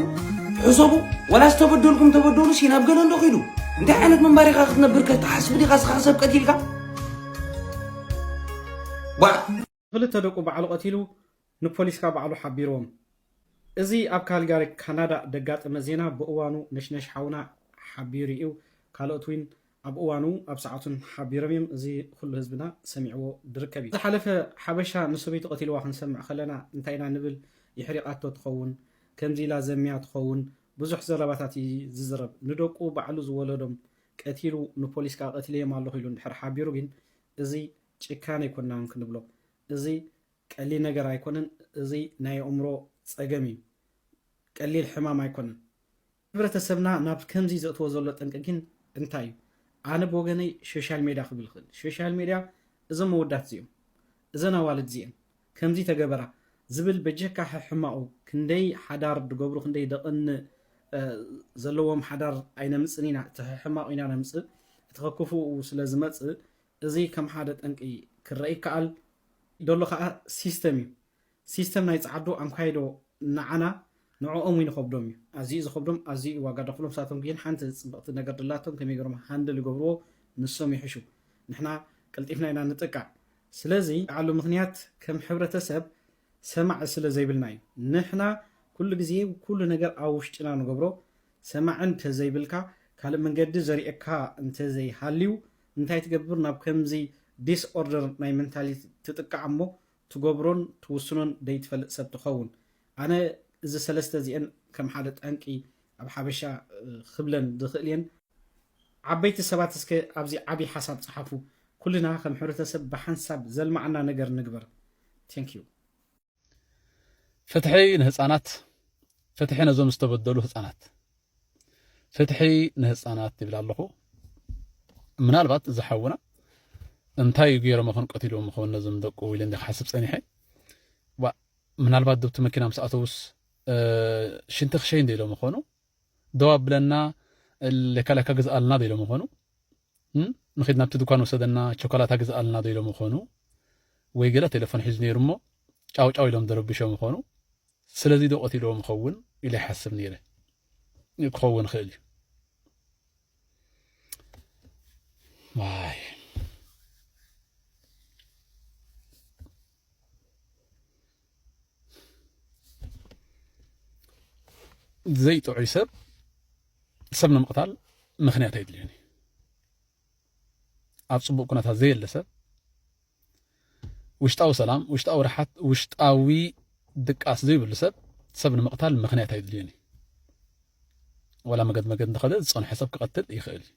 ሕሰቡ። ወላ ዝተበደልኩም ተበደሉ ሲ ናብ ገለ እንዶ ኺዱ። እንታይ ዓይነት ምንባር ኢኻ ክትነብር ከተሓስብ ዲኻ ስኻ ሰብ ቀቲልካ? ዋ ክልተ ደቁ ባዕሉ ቀቲሉ ንፖሊስካ ባዕሉ ሓቢርዎም። እዚ ኣብ ካልጋሪ ካናዳ ደጋጠመ ዜና ብእዋኑ ነሽነሽ ሓውና ሓቢሩ ኢዩ ካልኦት ዊን ኣብ እዋኑ ኣብ ሰዓቱን ሓቢሮም ኢዮም እዚ ኹሉ ህዝብና ሰሚዕዎ ድርከብ ኢዩ። ዝሓለፈ ሓበሻ ንሰበይቱ ቀቲልዋ ክንሰምዕ ከለና እንታይ ኢና ንብል ይሕሪቃቶ ትኸውን ከምዚ ኢላ ዘምያ ትኸውን ብዙሕ ዘረባታት ኢዩ ዝዝረብ ንደቁ ባዕሉ ዝወለዶም ቀቲሉ ንፖሊስ ከኣ ቀቲለዮም ኣለኹ ኢሉ እንድሕር ሓቢሩ ግን እዚ ጭካነ ኣይኮንና ውን ክንብሎ እዚ ቀሊል ነገር ኣይኮነን እዚ ናይ ኣእምሮ ጸገም እዩ ቀሊል ሕማም ኣይኮነን። ሕብረተሰብና ናብ ከምዚ ዘእትዎ ዘሎ ጠንቂ ግን እንታይ እዩ ኣነ ብወገነይ ሾሻል ሜድያ ክብል ይኽእል ሾሻል ሜድያ እዞም ኣወዳት እዚኦም እዘን ኣዋልድ እዚኤን ከምዚ ተገበራ ዝብል በጀካ ሕሕማቑ ክንደይ ሓዳር ድገብሩ ክንደይ ደቕን ዘለዎም ሓዳር ኣይነምጽን ኢና እቲ ሕሕማቑ ኢና ነምጽእ እቲ ከክፉኡ ስለ ዝመጽእ እዚ ከም ሓደ ጠንቂ ክረኣ ይከኣል ደሎ ከኣ ሲስተም እዩ። ሲስተም ናይ ጸዓዱ ኣምካይዶ ንዓና ንዕኦም ውን ይኸብዶም እዩ። ኣዚዩ እዩ ዝኸብዶም ኣዚዩ እዩ ዋጋ ደኽሎም ንሳቶም ጊን ሓንቲ ጽብቕቲ ነገር ድላቶም ከመይ ገሮም ሃንድል ይገብርዎ ንሶም ይሕሹ ንሕና ቀልጢፍና ኢና ንጥቃዕ ስለዚ ዓሉ ምኽንያት ከም ሕብረተሰብ ሰማዒ ስለ ዘይብልና እዩ። ንሕና ኩሉ ግዜ ኩሉ ነገር ኣብ ውሽጥና ንገብሮ ሰማዒ እንተ ዘይብልካ ካልእ መንገዲ ዘርእየካ እንተ ዘይሃልዩ እንታይ ትገብር ናብ ከምዚ ዲስ ኦርደር ናይ መንታሊቲ ትጥቃዕ እሞ ትገብሮን ትውስኖን ደይትፈልጥ ሰብ ትኸውን ኣነ እዚ ሰለስተ እዚኤን ከም ሓደ ጠንቂ ኣብ ሓበሻ ክብለን ዝኽእል እየን ዓበይቲ ሰባት እስከ ኣብዚ ዓቢ ሓሳብ ጽሓፉ ኩልና ከም ሕብረተሰብ ብሓንሳብ ዘልማዓና ነገር ንግበር Thank you። ፍትሒ ንህፃናት ፍትሒ ነዞም ዝተበደሉ ህፃናት ፍትሒ ንህፃናት ይብል ኣለኹ ምናልባት እዚ ሓውና እንታይ ገይሮም ይኹን ቀቲልዎም ይኸውን ነዞም ደቁ ኢለ እንዲ ክሓስብ ፀኒሐ ምናልባት ዶብቲ መኪና ምስ ኣተውስ ሽንቲ ክሸይ እንደ ኢሎም ይኾኑ ደው ኣብለና ለካለካ ግዝኣልና ዶ ኢሎም ይኾኑ ንኺድ ናብቲ ድኳን ውሰደና ቸኮላታ ግዝኣልና ዶ ኢሎሞ ኾኑ ወይ ገለ ቴለፎን ሒዙ ነይሩ እሞ ጫው ጫው ኢሎም ደረብሾም ኾኑ ስለዚ ዶ ቀቲልዎም ይኸውን ኢለ ይሓስብ ነይረ ክኸውን ይኽእል እዩ ዋይ ዘይጥዑይ ሰብ ሰብ ንምቕታል ምክንያት ኣይድልዮን እዩ ኣብ ፅቡቅ ኩነታት ዘየለ ሰብ ውሽጣዊ ሰላም ውሽጣዊ ርሓት ውሽጣዊ ድቃስ ዘይብሉ ሰብ ሰብ ንምቕታል ምክንያት ኣይድልዮን እዩ ወላ መገድ መገድ እንተኸደ ዝፀንሖ ሰብ ክቐትል ይኽእል እዩ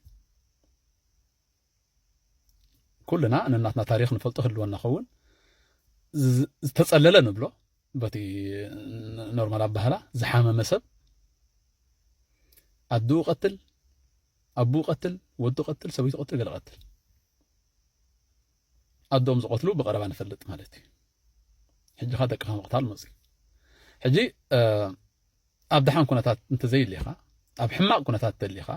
ኩልና ነናትና ታሪኽ ንፈልጦ ህልወና ኸውን ዝተጸለለ ንብሎ በቲ ኖርማል ኣባህላ ዝሓመመ ሰብ ኣድኡ ቀትል ኣቡ ቀትል ወዱ ቀትል ሰበይቱ ቀትል ገለ ቀትል ኣዶም ዝቐትሉ ብቐረባ ንፈልጥ ማለት እዩ ሕጂ ኸ ደቅኻ ምቕታል መፅዩ ሕጂ ኣብ ደሓን ኩነታት እንተዘይሊኻ ኣብ ሕማቕ ኩነታት ተሊኻ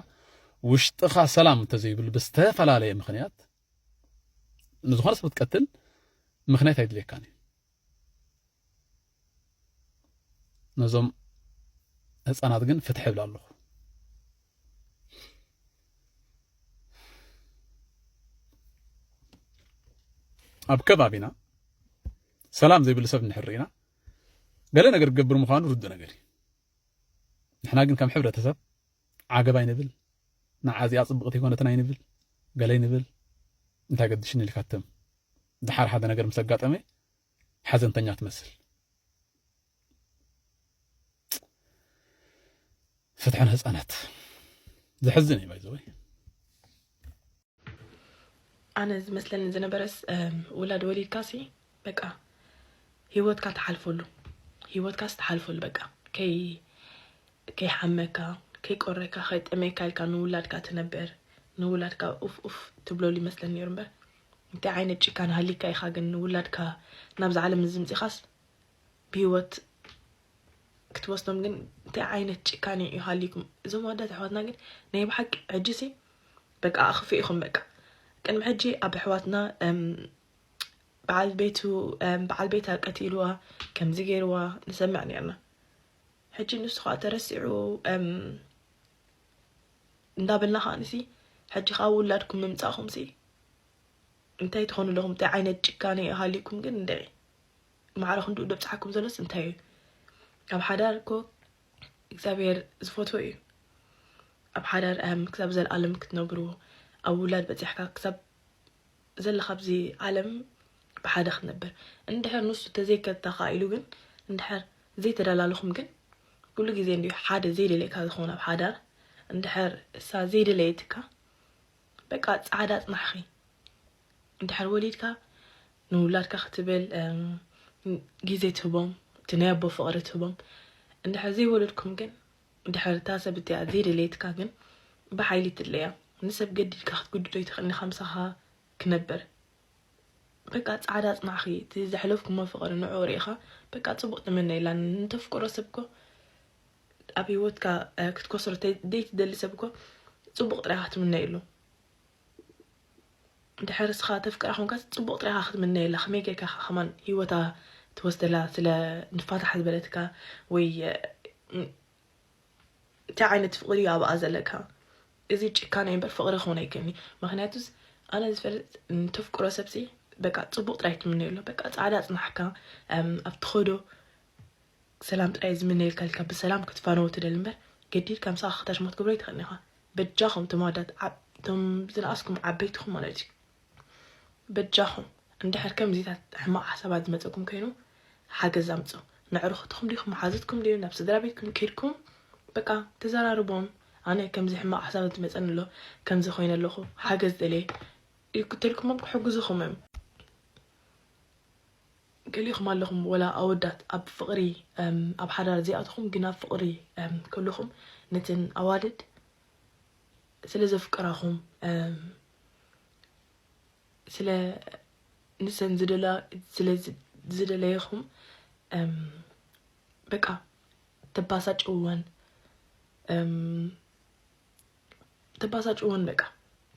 ውሽጥኻ ሰላም እንተዘይብሉ ብዝተፈላለየ ምክንያት ንዝኾነ ሰብ ክትቀትል ምክንያት ኣይድልየካን እዩ ነዞም ህፃናት ግን ፍትሒ ይብል ኣለኹ ኣብ ከባቢና ሰላም ዘይብሉ ሰብ እንድሕር ርኢና ገለ ነገር ክገብር ምዃኑ ርዱእ ነገር እዩ ንሕና ግን ከም ሕብረተሰብ ዓገብ ኣይንብል ንዓ እዚኣ ፅብቕቲ ይኮነትን ኣይንብል ገለ ይንብል እንታይ ገድሽኒ ኢልካትም ድሓር ሓደ ነገር ምስ ኣጋጠመ ሓዘንተኛ ትመስል ፍትሒ ንህፃናት ዘሕዝን እዩ ባይዘወይ ኣነ ዝመስለኒ ዝነበረስ ውላድ ወሊድካ ሲ በቃ ሂወትካ ትሓልፈሉ ሂወትካስ ትሓልፈሉ በቃ ከይ ከይሓመካ ከይቆረካ ከይጠመየካ ኢልካ ንውላድካ ትነበር ንውላድካ ኡፍ ኡፍ ትብለሉ ይመስለኒ ነይሩ እምበር እንታይ ዓይነት ጭካን ሃሊካ ኢኻ ግን ንውላድካ ናብዚ ዓለም እዚ ምፂኻስ ብሂወት ክትወስዶም ግን እንታይ ዓይነት ጭካኔ እዩ ሃሊኩም እዞም ኣዳት ኣሕዋትና ግን ናይ ብሓቂ ሕጂ ሲ በቃ ኣኽፍ ኢኹም በቃ ቅድሚ ሕጂ ኣብ ኣሕዋትና በዓል ቤቱ በዓል ቤታ ቀቲልዋ ከምዚ ገይርዋ ንሰምዕ ነርና ሕጂ ንሱ ከዓ ተረሲዑ እንዳበልና ከዓ ንሲ ሕጂ ከዓ ውላድኩም ምምፃእኹም ሲ እንታይ ትኾኑ ኣለኹም እንታይ ዓይነት ጭካኔ ሃሊኩም ግን እንደ ማዕረ ክንድኡ ደብጽሓኩም ዘሎስ እንታይ እዩ? ኣብ ሓዳር እኮ እግዚኣብሔር ዝፈትዎ እዩ። ኣብ ሓዳር ኣም ክሳብ ዘለኣለም ክትነብሩ ኣብ ውላድ በጺሕካ ክሳብ ዘለካ ኣብዚ ዓለም ብሓደ ክትነብር እንድሕር ንሱ ተዘይከታካ ኢሉ ግን እንድሕር ዘይተደላለኹም ግን ኩሉ ግዜ እንዲ ሓደ ዘይደለየካ ዝኸውን ኣብ ሓዳር እንድሕር እሳ ዘይደለየትካ በቃ ጻዕዳ ጽናሕኺ እንድሕር ወሊድካ ንውላድካ ክትብል ግዜ ትህቦም እቲ ናይ ኣቦ ፍቕሪ ትህቦም እንድሕር ዘይወለድኩም ግን እንድሕር እታ ሰብ እቲኣ ዘይደለየትካ ግን ብሓይሊ ትድለያ ንሰብ ገዲድካ ክትግድዶ ይትኽእልኒ ከምሳኻ ክነብር በቃ ጻዕዳ ኣጽናዕኺ እቲ ዘሕለፍኩሞ ፍቕሪ ንዑ ርኢኻ በቃ ጽቡቕ ተመነ ኢላ ንተፍቅሮ ሰብ እኮ ኣብ ሂወትካ ክትኮስሮ ዘይትደሊ ሰብ እኮ ጽቡቕ ጥራይ ክትምነየሉ እንድሕር እስኻ ተፍቅራ ኮንካስ ጽቡቅ ጥራይ ኢኻ ክትምነየላ ከመይ ጌርካ ኢኻ ከማን ሂወታ ትወስደላ ስለ ንፋታሕ ዝበለትካ ወይ እንታይ ዓይነት ፍቅሪ እዩ ኣብኣ ዘለካ እዚ ጭካነ እምበር ፍቅሪ ክኾን ኣይክእልኒ ምክንያቱስ ኣነ ዝፈልጥ ንተፍቅሮ ሰብሲ በቃ ጽቡቅ ጥራይ ትምነየሉ በቃ ጻዕዳ ጽናሕካ ኣብ ትኸዶ ሰላም ጥራይ ዝምነየልካ ኢልካ ብሰላም ክትፋነዎ ትደሊ እምበር ገዲድካ ምሳኻ ክታሽሞት ክትገብሮ ኣይትኽእልን ኢኻ በጃኹም እቶም ኣወዳት እቶም ዝነኣስኩም ዓበይትኹም ማለት እዩ በጃኹም እንድሕር ከምዚታት ሕማቕ ሓሳባት ዝመፀኩም ኮይኑ ሓገዝ ኣምፁ ንዕርኹትኹም ዲኹም መሓዙትኩም ድዩ ናብ ስድራ ቤትኩም ኬድኩም በቃ ተዘራርቦም ኣነ ከምዚ ሕማቕ ሓሳብ ዝመፀኒ ኣሎ ከምዚ ኮይነ ኣለኹ ሓገዝ ደልየ ክትልኩሞም ክሕግዙኹም እዮም ገሊኹም ኣለኹም ወላ ኣወዳት ኣብ ፍቅሪ ኣብ ሓዳር ዘይኣተኹም ግን ኣብ ፍቅሪ ከለኹም ነተን ኣዋልድ ስለ ዘፍቅራኹም ስለ ንሰን ዝደላ ስለ ዝደለይኹም በቃ ተባሳጭወን ተባሳጭዎን በቃ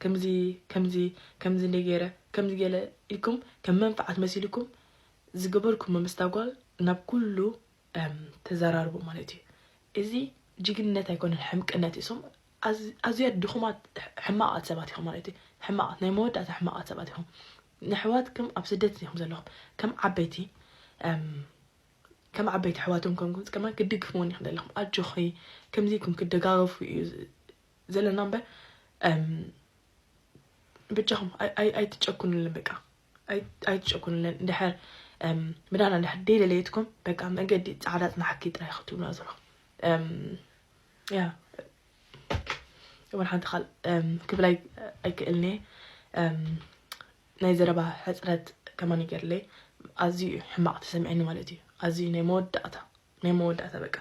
ከምዚ ከምዚ ከምዚ እንደ ገይረ ከምዚ ገለ ኢልኩም ከም መንፍዓት መሲልኩም ዝገበርኩሞ ምስታ ጓል ናብ ኩሉ ተዘራርቡ ማለት እዩ እዚ ጅግንነት ኣይኮነን ሕምቅነት እዩ ሶም ኣዝያ ድኹማት ሕማቓት ሰባት ኢኹም ማለት እዩ ሕማቓት ናይ መወዳእታ ሕማቓት ሰባት ኢኹም ነሕዋትኩም ኣብ ስደት ኢኹም ዘለኹም ከም ዓበይቲ ከም ዓበይቲ ኣሕዋቶም ኮንኩም ከማን ክትድግፍወን ኢክን ዘለኩም ኣጆኺ ከምዚ ኢልኩም ክትደጋገፉ እዩ ዘለና እምበር ብጃኹም ኣይትጨኩንልን በቃ ኣይትጨኩንልን እንድሕር ምዳና እንድሕር ደይለለየትኩም በቃ መገዲ ፃዕዳ ፅናሕኪ ጥራይ ክትብሉና ዘለኹም ያ ወላ ሓንቲ ኻል ክብል ኣይክእልን እየ ናይ ዘረባ ሕጽረት ከማን ይገድለይ ኣዝዩ እዩ ሕማቅ ተሰሚዕኒ ማለት እዩ ኣዝዩ ናይ መወዳእታ ናይ መወዳእታ በቃ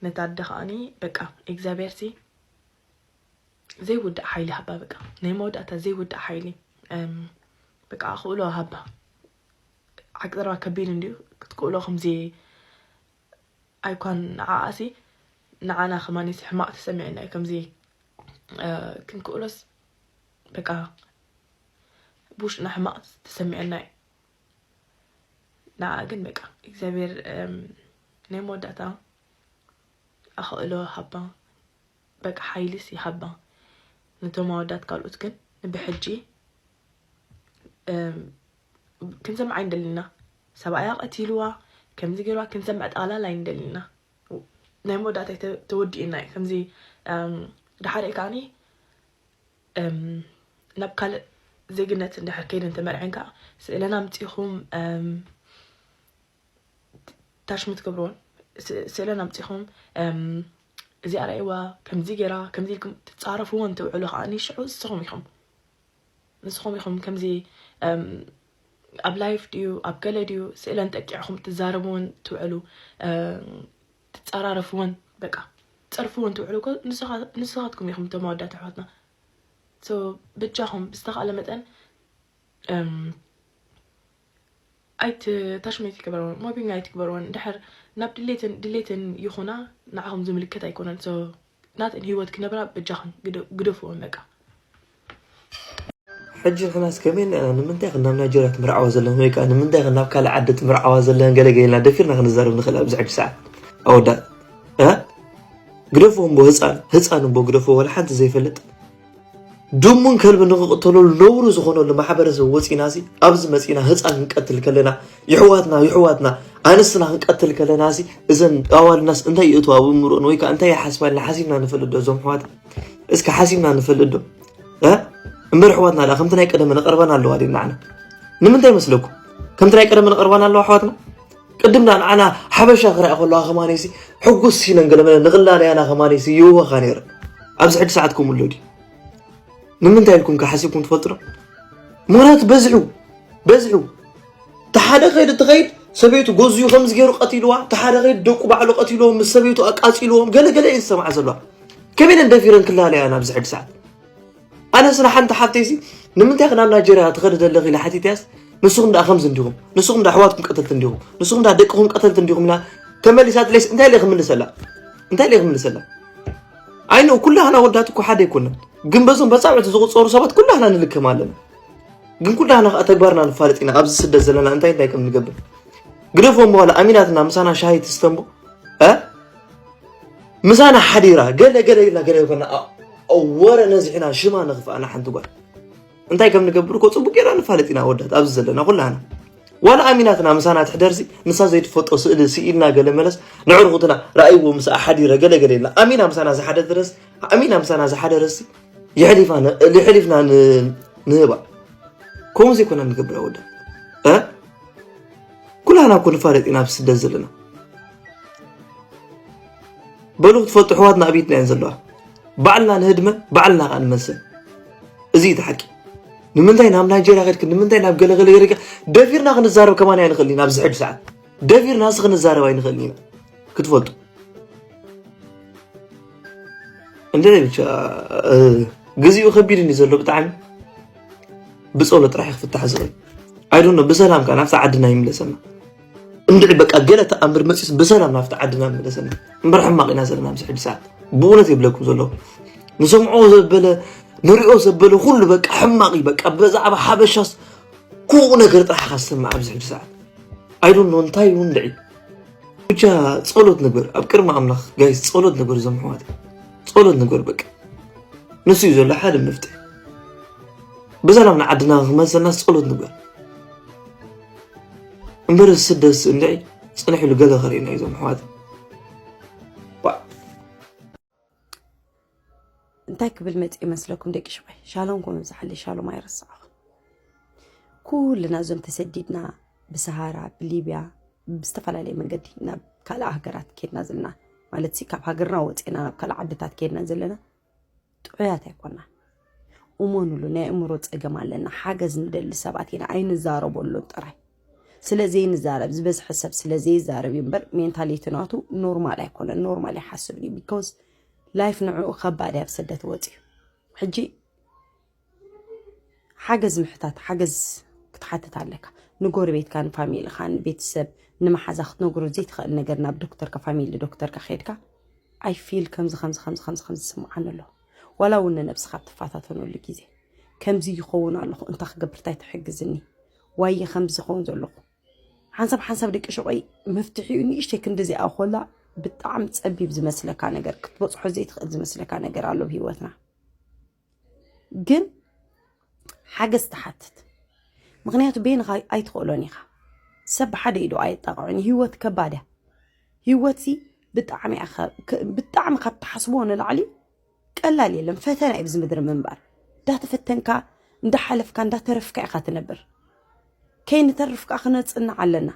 ነታ ኣደ ከኣኒ በቃ እግዚኣብሔር ሲ ዘይውዳእ ሓይሊ ሃባ በቃ ናይ መወዳእታ ዘይውዳእ ሓይሊ በቃ ኣኽእሎ ሃባ ዓቂ ዘረባ ከቢድ እንዲዩ ክትክእሎ ከምዚ ኣይኳን ንዓኣሲ ንዓና ከማኒሲ ሕማቅ ተሰሚዕና እዩ ከምዚ ክንክእሎስ በቃ ብውሽጥና ሕማቅ ተሰሚዑና እዩ ንዓ ግን በቃ እግዚኣብሔር ናይ መወዳእታ ኣኸእሎ ሃባ በቃ ሓይልስ ይሃባ ነቶም ኣወዳት ካልኦት ግን ብሕጂ ክንሰምዕ ኣይንደልና ሰብኣያ ቀቲልዋ ከምዚ ገይርዋ ክንሰምዕ ጠቕላላ ኣይንደልና ናይ መወዳእታይ ተወዲኡና እዩ ከምዚ ድሓር ከዓኒ ናብ ካልእ ዜግነት እንድሕር ከይደን ተመርዐን ከዓ ስእለን ኣምፂኹም ታሽምት ገብረውን ስእለን ኣምፂኹም እዚኣ ርኣይዋ ከምዚ ገይራ ከምዚ ኢልኩም ትፃረፍዎ እንትውዕሉ ከዓ ሽዑ ንስኹም ኢኹም ንስኹም ኢኹም ከምዚ ኣብ ላይፍ ድዩ ኣብ ገለ ድዩ ስእለን ጠቂዕኹም ትዛረብዎን ትውዕሉ ትጻራረፍወን በቃ ትጸርፍወን ትውዕሉ እኮ ንስኻትኩም ኢኹም እቶም ኣወዳት ኣሕዋትና ሶ ብጃኹም ብዝተኻእለ መጠን ኣይት ታሽም ኣይትግበርወን ሞቢንግ ኣይትግበርወን ድሕር ናብ ድሌትን ድሌትን ይኹና ንዓኹም ዝምልከት ኣይኮነን ሶ ናተን ሂወት ክነብራ በጃኽን ግደፍወን በቃ። ሕጂ ንሕናስ ከመይ ኢልና ኢና ንምንታይ ኢኽን ናብ ናይጀርያ ትምርዓዋ ዘለኽን ወይ ከኣ ንምንታይ ኢኽን ናብ ካልእ ዓዲ ትምርዓዋ ዘለኽን ገለ ገለ ኢልና ደፊርና ክንዛረብ ንኽእል ኣብዚ ሕጂ ሰዓት ኣወዳት ግደፍዎ እምቦ ህፃን ህፃን እምቦ ግደፍዎ ወላ ሓንቲ ዘይፈልጥ ድሙን ከልቢ ንክቕተሎ ለውሩ ዝኾነሉ ማሕበረሰብ ወፂና ሲ ኣብዚ መፂና ህፃን ክንቀትል ከለና ይሕዋትና ይሕዋትና ኣንስትና ክንቀትል ከለና ሲ እዘን ኣዋልናስ እንታይ ይእትዋ ኣብ እምሮን ወይ ከዓ እንታይ ይሓስባልና ሓሲብና ንፈልጥ ዶ እዞም ሕዋት እስኪ ሓሲብና ንፈልጥ ዶ እምበር ሕዋትና ላ ከምቲ ናይ ቀደመ ነቐርበን ኣለዋ ድናዕና ንምንታይ መስለኩም ከምቲ ናይ ቀደመ ነቐርበን ኣለዋ ኣሕዋትና ቅድም ዳኣ ንዓና ሓበሻ ክርኣ ከለዋ ከማኔሲ ሕጉስ ሲነን ገለመለ ንቕላለያና ከማኔሲ ይህወኻ ነይረን ኣብዚ ሕጂ ሰዓት ከምኡ ኣሎ ድዩ ንምንታይ ኢልኩም ከ ሓሲብኩም ትፈልጡ ዶ ምክንያቱ በዝሑ በዝሑ ተሓደ ከይድ እትኸይድ ሰበይቱ ጎዝዩ ከምዚ ገይሩ ቀቲልዋ ተሓደ ከይድ ደቁ ባዕሉ ቀቲልዎም ምስ ሰበይቱ ኣቃፂልዎም ገለገለ እየን ዝሰምዓ ዘለዋ ከመይ ኢለን ደፊረን ክላለያ ናብዚ ሕጂ ሰዓት ኣነስ ንሓንቲ ሓፍተይሲ ንምንታይ ናብ ናይጀርያ ትኸዲ ዘለኺ ኢለ ሓቲተያስ ንስኹም ደኣ ከምዚ እንዲኹም ንስኹም ደኣ ኣሕዋትኩም ቀተልቲ እንዲኹም ንስኹም ደኣ ደቅኹም ቀተልቲ እንዲኹም ኢላ ተመሊሳትለይስ እንታይ ኢለ ክምልሰላ እንታይ ኢለ ክምልሰላ ኣይነ ኩላህና ወዳት እኮ ሓደ ኣይኮነን ግን በዞም በፃብዕቲ ዝቁፀሩ ሰባት ኩላህና ንልከም ኣለና ግን ኩላህና ከዓ ተግባርና ንፋለጥ ኢና ኣብዚ ስደት ዘለና እንታይ እንታይ ከም ንገብር ግደፎ እሞ ዋላ ኣሚናትና ምሳና ሻሂ ትስተምቦ ምሳና ሓዲራ ገለ ገለ ኢልና ገለ ኮና ወረ ነዚሕና ሽማ ንኽፍኣና ሓንቲ ጓል እንታይ ከም ንገብር እኮ ፅቡቅ ጌርና ንፋለጥ ኢና ወዳት ኣብዚ ዘለና ኩላና ዋላ ኣሚናትና ምሳና ትሕደርሲ ንሳ ዘይትፈልጦ ስእሊ ስኢልና ገለ መለስ ንዕርኹትና ረኣይዎ ምስ ሓዲረ ገለ ገለ ኢልና ኣሚና ምሳና ዝሓደ ድረስ ኣሚና ምሳና ዝሓደ ረሲ ይሕሊፍና ንህባ ከምኡ ዘይኮና ንገብር ወዳት ኩላና እኮ ንፋለጥ ኢና ኣብ ስደት ዘለና በሉ ክትፈልጡ ኣሕዋትና ኣብ ኢድና እየን ዘለዋ ባዕልና ንህድመ ባዕልና ከዓ ንመዝን እዚ እዩ ሓቂ ንምንታይ ናብ ናይጀርያ ከድክ ንምንታይ ናብ ገለገለ ገለ ደፊርና ክንዛረብ ከማን ኣይንኽእል ኢና ኣብዚ ሕጂ ሰዓት ደፊርና ሲ ክንዛረብ ኣይንኽእል ኢና ክትፈልጡ እንደ ብቻ ግዚኡ ከቢድን እዩ ዘሎ ብጣዕሚ ብፀሎት ጥራሕ ክፍታሕ ዝኽእል ኣይዶኖ ብሰላም ከዓ ናብቲ ዓድና ይምለሰና እንድዒ በቃ ገለ ተኣምር መፂስ ብሰላም ናብቲ ዓድና ይምለሰና እምበር ሕማቕ ኢና ዘለና ምስ ሕጂ ሰዓት ብእውነት የብለኩም ዘለኹ ንሰምዖ ዘበለ ንሪኦ ዘበለ ኩሉ በቃ ሕማቕ እዩ በቃ ብዛዕባ ሓበሻስ ኩኡ ነገር ጥራሕ ኢኻ ዝሰምዕ ኣብዚ ሕጂ ሰዓት ኣይዶኖ እንታይ ይሁን ድዒ ብቻ ፀሎት ንግበር ኣብ ቅድሚ ኣምላኽ ጋይስ ፀሎት ንግበር እዞም ኣሕዋት ጸሎት ንግበር በቃ ንሱ እዩ ዘሎ ሓደ መፍትሒ ብሰላም ንዓድና ክመልሰና ጸሎት ንግበር እምበር ስደስ እንድዒ ፅንሕ ኢሉ ገለ ከርእና እዩ ዞም ኣሕዋት እንታይ ክብል መፅ ይመስለኩም ደቂ ሽባይ ሻሎም ኮ ምብዛሓለ ሻሎም ኣይረስዓኹም ኩልና እዞም ተሰዲድና ብሰሃራ ብሊብያ ብዝተፈላለየ መንገዲ ናብ ካልእ ሃገራት ኬድና ዘለና ማለት ካብ ሃገርና ወፂና ናብ ካልእ ዓድታት ኬድና ዘለና ጥዑያት ኣይኮና እመኑሉ ናይ እምሮ ፀገም ኣለና ሓገዝ ንደሊ ሰባት ኢና ኣይንዛረበሉን ጥራይ ስለዘይንዛረብ ዝበዝሐ ሰብ ስለዘይዛረብ እዩ እምበር ሜንታሊቲ ናቱ ኖርማል ኣይኮነን ኖርማል ይሓስብ እዩ ቢኮዝ ላይፍ ንዕኡ ከባድ እያ ብስደት ወፂኡ ሕጂ ሓገዝ ምሕታት ሓገዝ ክትሓትት ኣለካ ንጎረቤትካ ንፋሚልኻ ንቤተሰብ ንመሓዛ ክትነግሮ ዘይትኽእል ነገር ናብ ዶክተርካ ፋሚሊ ዶክተርካ ከድካ ኣይ ፊል ከምዚ ከምዚ ከምዚ ከምዚ ከምዚ ዝስምዓኒ ኣሎ ዋላ እውን ንነብስኻ ትፈታተነሉ ግዜ ከምዚ ይኸውን ኣለኹ እንታይ ክገብር እንታይ ትሕግዝኒ ዋየ ከምዚ ዝኸውን ዘለኹ ሓንሳብ ሓንሳብ ደቂ ሸቆይ መፍትሒኡ ንእሽተይ ክንዲዚኣ ኮላ ብጣዕሚ ፀቢብ ዝመስለካ ነገር ክትበፅሖ ዘይትኽእል ዝመስለካ ነገር ኣሎ ብሂወትና ግን ሓገዝ ትሓትት ምክንያቱ ቤንኻ ኣይትኽእሎን ኢኻ ሰብ ብሓደ ኢዶ ኣየጣቕዑን ህይወት ከባድ እያ ህይወት ሲ ብጣዕሚ ብጣዕሚ ካብ ትሓስቦ ንላዕሊ ቀላል የለን ፈተና እዩ ብዚ ምድሪ ምንባር እንዳተፈተንካ እንዳሓለፍካ እንዳተረፍካ ኢኻ ትነብር ከይንተርፍ ከኣ ክነጽንዕ ኣለና።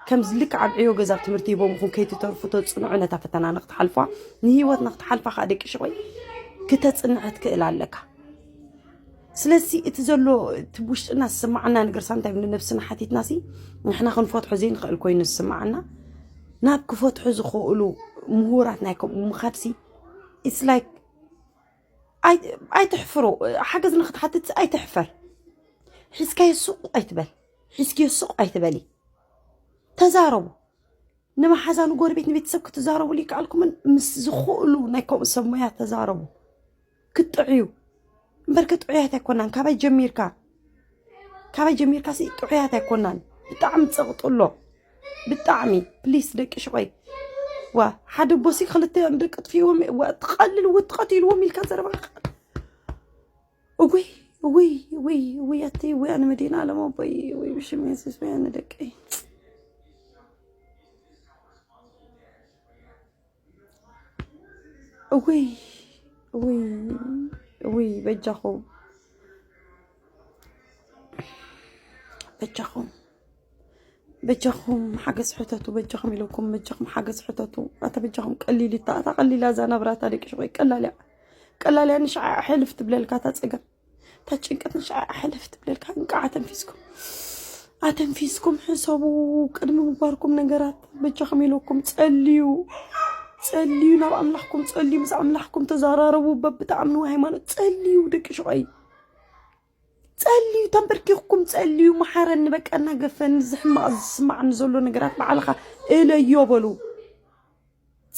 ከምዚ ልክዕ ኣብ ዕዮ ገዛ ኣብ ትምህርቲ ሂቦምኹም ከይትተርፉ ተጽንዑ ነታ ፈተና ንክትሓልፏ ንህይወት ንክትሓልፋ ከዓ ደቂ ሽቆይ ክተጽንዕ ክትክእል ኣለካ ስለዚ እቲ ዘሎ እቲ ውሽጥና ዝስማዓና ነገር ሳንታይ ንነብስና ሓቲትና ሲ ንሕና ክንፈትሖ ዘይንኽእል ኮይኑ ዝስማዓና ናብ ክፈትሑ ዝኽእሉ ምሁራት ናይ ከምኡ ምኻድ ሲ ኢትስ ላይክ ኣይትሕፍሩ ሓገዝ ንክትሓትት ኣይትሕፈር ሒዝካዮ ሱቅ ኣይትበል ሒዝክዮ ሱቅ ኣይትበሊ ተዛረቡ ንመሓዛ ንጎረቤት ንቤተሰብ ክትዛረቡ ይከኣልኩምን ምስ ዝኽእሉ ናይ ከምኡ ሰብ ሞያ ተዛረቡ ክትጥዕዩ እምበር ክጥዕያት ኣይኮናን ካበይ ጀሚርካ ካባይ ጀሚርካ ሲ ጥዑያት ኣይኮናን ብጣዕሚ ፀቕጢ ኣሎ ብጣዕሚ ፕሊስ ደቂ ሽቆይ ዋ ሓደ ቦሲ ክልተ ደቂ ጥፍዎም ትቐልል ው ትቐትልዎም ኢልካ ዘረባ እወይ እወይ እወይ እወይ ኣተይ እወይ ኣነ መዲና ኣለሞ ቦይ እወይ ብሽም የሱስ ወይ ኣነ ደቀይ እውይ እውይ እውይ በጃኹም በጃኹም በጃኹም ሓገዝ ሕተቱ በጃኹም ኢለኩም በጃኹም ሓገዝ ሕተቱ ኣታ በጃኹም ቀሊል እታ እታ ቀሊላ እዛ ናብራ እታ ደቂ ሸቆይ ቀላል እያ ቀላል እያ ንሸዓ ሕልፍ ትብለልካ እታ ፀገም እታ ጭንቀት ንሻዕ ኣሕለፍ ትብለልካ እንቃዕ ኣተንፊስኩም ኣተንፊስኩም ሕሰቡ ቅድሚ ምግባርኩም ነገራት በጃኹም ኢለኩም ጸልዩ ጸልዩ ናብ ኣምላኽኩም ጸልዩ ምስ ኣምላኽኩም ተዘራረቡ በብትኣምንዎ ሃይማኖት ጸልዩ ደቂ ሽቆይ ጸልዩ ተንበርኪኽኩም ጸልዩ መሓረኒ በቃ እናገፈኒ ዝሕማቕ ዝስማዕኒ ዘሎ ነገራት ባዕልኻ እለዮ በሉ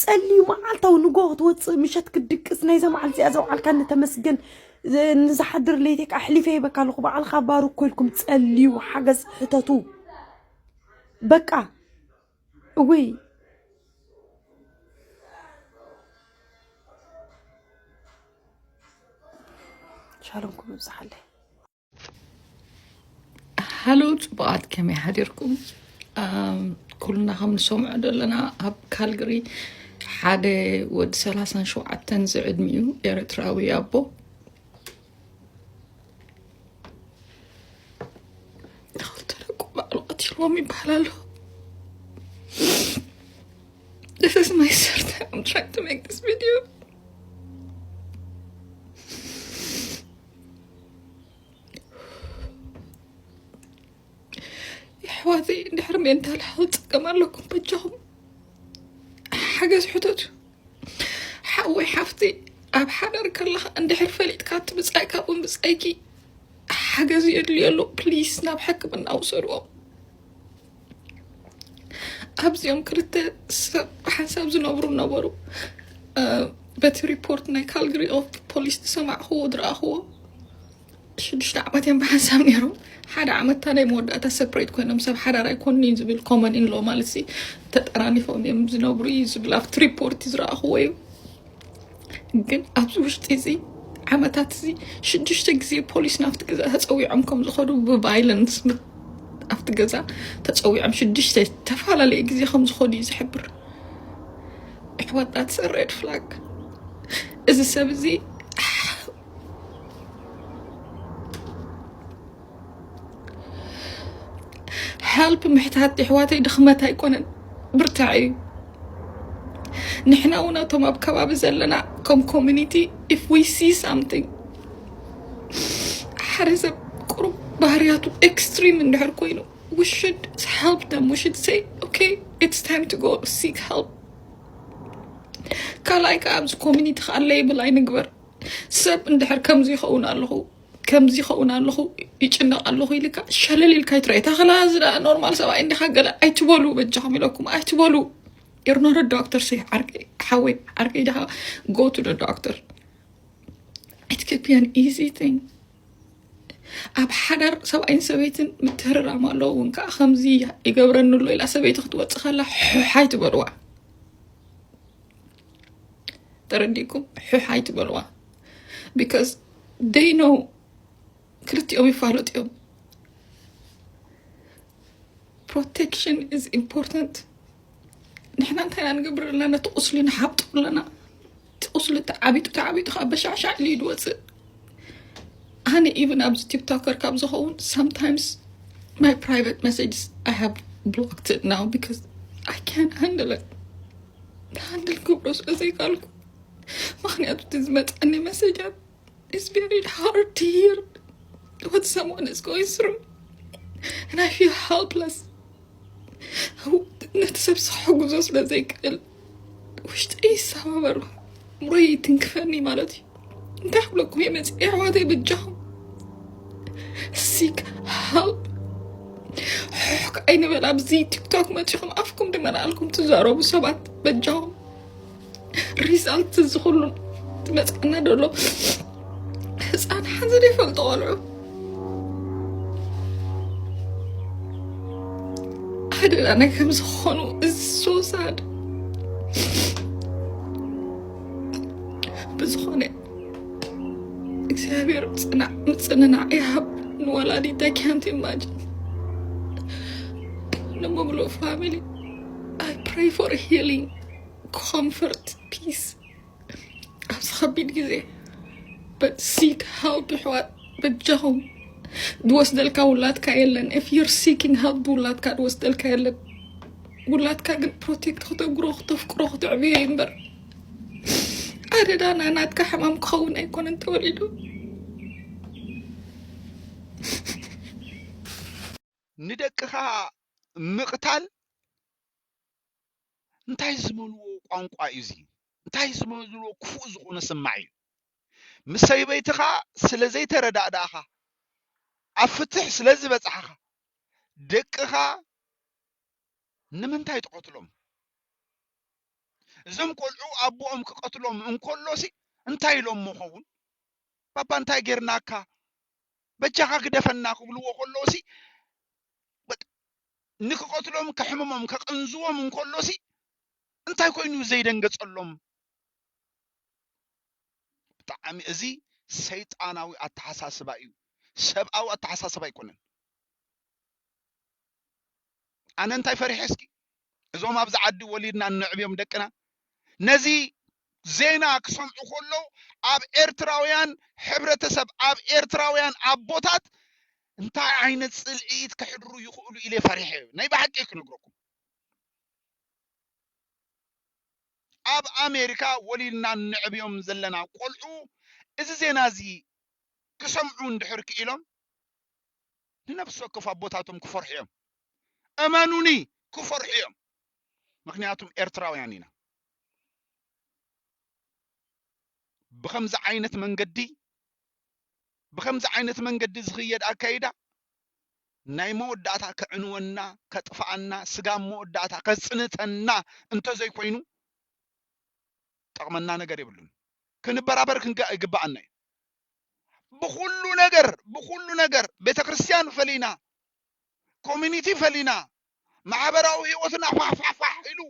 ጸልዩ መዓልታዊ ንጎ ክትወፅእ ምሸት ክትድቅስ ናይዛ መዓልቲ እዚኣ ዘውዓልካኒ ተመስገን ንዝሓድር ለይቲ ከዓ ኣሕሊፈ ይበካ ኣለኹ በዓልካ ባርክ ኮይልኩም ጸልዩ ሓገዝ ሕተቱ በቃ እወይ ሻሎምኩም ይብዛሓለይ ሃሎ ፅቡቃት ከመይ ሓዲርኩም ኩልና ከም ንሰምዖ ዘለና ኣብ ካልግሪ ሓደ ወዲ ሰላሳን ሸውዓተን ዝዕድሚኡ ኤርትራዊ ኣቦ ተረቁ ባዕሉ ቀቲልዎም ይበሃል ኣሎ This is my third time I'm trying to make this video. ኣሕዋተይ ድሕሪ ሜንታል ሄልት ፀገም ኣለኩም በጃኹም ሓገዝ ሕተቱ ሓወይ ሓፍቲ ኣብ ሓዳር ከለኻ እንድሕር ፈሊጥካ እቲ ብፃይ ካብኡ ብፃይኪ ሓገዝ የድልዮ ኣሎ ፕሊስ ናብ ሕክምና ውሰድዎም ኣብዚኦም ክልተ ሰብ ሓንሳብ ዝነብሩ ነበሩ በቲ ሪፖርት ናይ ካልግሪ ኦፍ ፖሊስ ዝሰማዕክዎ ዝረኣኽዎ ሽዱሽተ ዓመት እዮም ብሓንሳብ ነይሮም ሓደ ዓመት ታደይ መወዳእታ ሰፕሬት ኮይኖም ሰብ ሓዳር ኣይኮኑ እዩ ዝብል ኮመን ኢንሎ ማለት ሲ ተጠራኒፎም እዮም ዝነብሩ እዩ ዝብል ኣብቲ ሪፖርት ዝረኣኽዎ እዩ ግን ኣብዚ ውሽጢ እዚ ዓመታት እዚ ሽዱሽተ ግዜ ፖሊስ ናብቲ ገዛ ተፀዊዖም ከም ዝኸዱ ብቫይለንስ ኣብቲ ገዛ ተፀዊዖም ሽዱሽተ ዝተፈላለየ ግዜ ከም ዝኸዱ እዩ ዝሕብር ኣሕዋታት ሰሬድ ፍላግ እዚ ሰብ እዚ ሀልፕ ምሕታት የሕዋተይ ድኽመት ኣይኮነን ብርታዕ እዩ ንሕና እውን እቶም ኣብ ከባቢ ዘለና ከም ኮሚኒቲ ኢፍ ዊ ሲ ሳምቲንግ ሓደ ሰብ ቁሩብ ባህርያቱ ኤክስትሪም እንድሕር ኮይኑ ዊ ሽድ ሀልፕ ደም ዊ ሽድ ሰይ ኦኬ ኢትስ ታይም ቱ ጎ ሲክ ሀልፕ ካልኣይ ከዓ ኣብዚ ኮሚኒቲ ከዓ ሌብል ኣይንግበር ሰብ እንድሕር ከምዚ ይኸውን ኣለኹ ከምዚ ይኸውን ኣለኹ ይጭነቕ ኣለኹ ኢልካ ሸለል ኢልካ ይትረአ ታኸላ እዚ ደኣ ኖርማል ሰብኣይ እንዲኻ ገለ ኣይትበሉ በጃኹም ኢለኩም ኣይትበሉ You're not a doctor say ዓርከይ ሓወይ ዓርከይ ድኻ go to the doctor it could be an easy thing ኣብ ሓዳር ሰብኣይን ሰበይትን ምትህርራም ኣለዎ እውን ከዓ ከምዚ ይገብረኒ ኣሎ ኢላ ሰበይቲ ክትወፅእ ከላ ሑሕ ኣይትበልዋ ተረዲእኩም ሑሕ ኣይትበልዋ ቢካዝ ደይ ነው ክልቲኦም ይፋለጡ እዮም ፕሮቴክሽን ኢዝ ኢምፖርታንት ንሕና እንታይ ኢና ንገብር ኣለና ነቲ ቁስሊ ንሓብጡ ኣለና እቲ ቁስሊ ተዓቢጡ ተዓቢጡ ከዓ በሻዕሻዕ ኢሉ እዩ ዝወፅእ ኣነ ኢቨን ኣብዚ ቲክቶከር ካብ ዝኸውን ሳምታይምስ ማይ ፕራይቨት መሴጅስ ኣይ ሃቭ ብሎክት ናው ቢካዝ ኣይ ካን ሃንድል ሃንድል ክብሎ ስለዘይካልኩ ምክንያቱ እቲ ዝመፀኒ መሰጃት ኢስ ቬሪ ሃርድ ቱ ሂር ወት ሰምዋን ኢስ ጎይንግ ስሩ and I feel helpless ነቲ ሰብ ክሕግዞ ስለ ዘይክእል ውሽጠይ ይሰባበር እምሮይ ይትንክፈኒ ማለት እዩ እንታይ ክብለኩም እየ መፅእ ኣሕዋተይ በጃኹም ሲክ ሃልፕ ሕሕክ ኣይንበል ኣብዚ ቲክቶክ መፂኹም ኣፍኩም ድመናልኩም ትዛረቡ ሰባት በጃኹም ሪዛልት እዚ ኩሉ ትመፅኣና ደሎ ህፃን ሓዚ ዘይፈልጡ ቆልዑ ሓደና ናይ ከም ዝኾኑ እዚ ሶሳድ ብዝኾነ እግዚኣብሔር ፅናዕ ምፅንናዕ ይሃብ ንወላዲት ኣይ ካንት ኢማጅን ንሙብሉ ፋሚሊ ኣይ ፕሬይ ፎር ሂሊንግ ኮምፎርት ፒስ ኣብዚ ከቢድ ግዜ ሲክ ሄልፕ ይሕዋት በጃኹም ዝወስደልካ ውላድካ የለን ኢፍ ዩር ሲኪንግ ሄልፕ ብውላድካ ዝወስደልካ የለን ውላድካ ግን ፕሮቴክት ክተግሮ ክተፍቅሮ ክትዕብዮ እምበር ኣደዳና ናትካ ሕማም ክኸውን ኣይኮነን ተወሊዱ ንደቅኻ ምቕታል እንታይ ዝበልዎ ቋንቋ እዩ እዚ እንታይ ዝበልዎ ክፉእ ዝኾነ ስማዕ እዩ ምስ ሰይበይትኻ ስለ ዘይተረዳእዳእኻ ኣብ ፍትሕ ስለ ዝበጻሕኻ ደቅኻ ንምንታይ ትቐትሎም እዞም ቆልዑ ኣቦኦም ክቐትሎም እንከሎሲ እንታይ ኢሎሞ ኸውን ባባ እንታይ ጌርናካ በጃኻ ግደፈና ክብልዎ ከለውሲ ንክቐትሎም ከሕምሞም ከቐንዝዎም እንከሎሲ እንታይ ኮይኑ ዘይደንገጸሎም ብጣዕሚ እዚ ሰይጣናዊ ኣተሓሳስባ እዩ ሰብኣዊ ኣተሓሳስባ ኣይኮነን ኣነ እንታይ ፈሪሐ እስኪ እዞም ኣብዚ ዓዲ ወሊድና እነዕብዮም ደቅና ነዚ ዜና ክሰምዑ ከለዉ ኣብ ኤርትራውያን ሕብረተሰብ ኣብ ኤርትራውያን ኣቦታት እንታይ ዓይነት ጽልኢት ከሕድሩ ይኽእሉ ኢለ ፈሪሐ ናይ ብሓቂ ክነግረኩም ኣብ ኣሜሪካ ወሊድና ንዕብዮም ዘለና ቆልዑ እዚ ዜና እዚ ክሰምዑ እንድሕር ክኢሎም ንነፍሲ ወከፍ ኣቦታቶም ክፈርሑ እዮም እመኑኒ ክፈርሑ እዮም ምክንያቱም ኤርትራውያን ኢና ብከምዚ ዓይነት መንገዲ ብከምዚ ዓይነት መንገዲ ዝኽየድ ኣካይዳ ናይ መወዳእታ ከዕንወና ከጥፍኣና ስጋብ መወዳእታ ከጽንተና እንተዘይኮይኑ ጠቕመና ነገር የብሉን ክንበራበር ክንጋእ ይግባኣና እዩ ብኩሉ ነገር ብኩሉ ነገር ቤተ ክርስቲያን ፈሊና ኮሚኒቲ ፈሊና ማሕበራዊ ህይወትና ፋሕፋሕፋሕ ኢሉ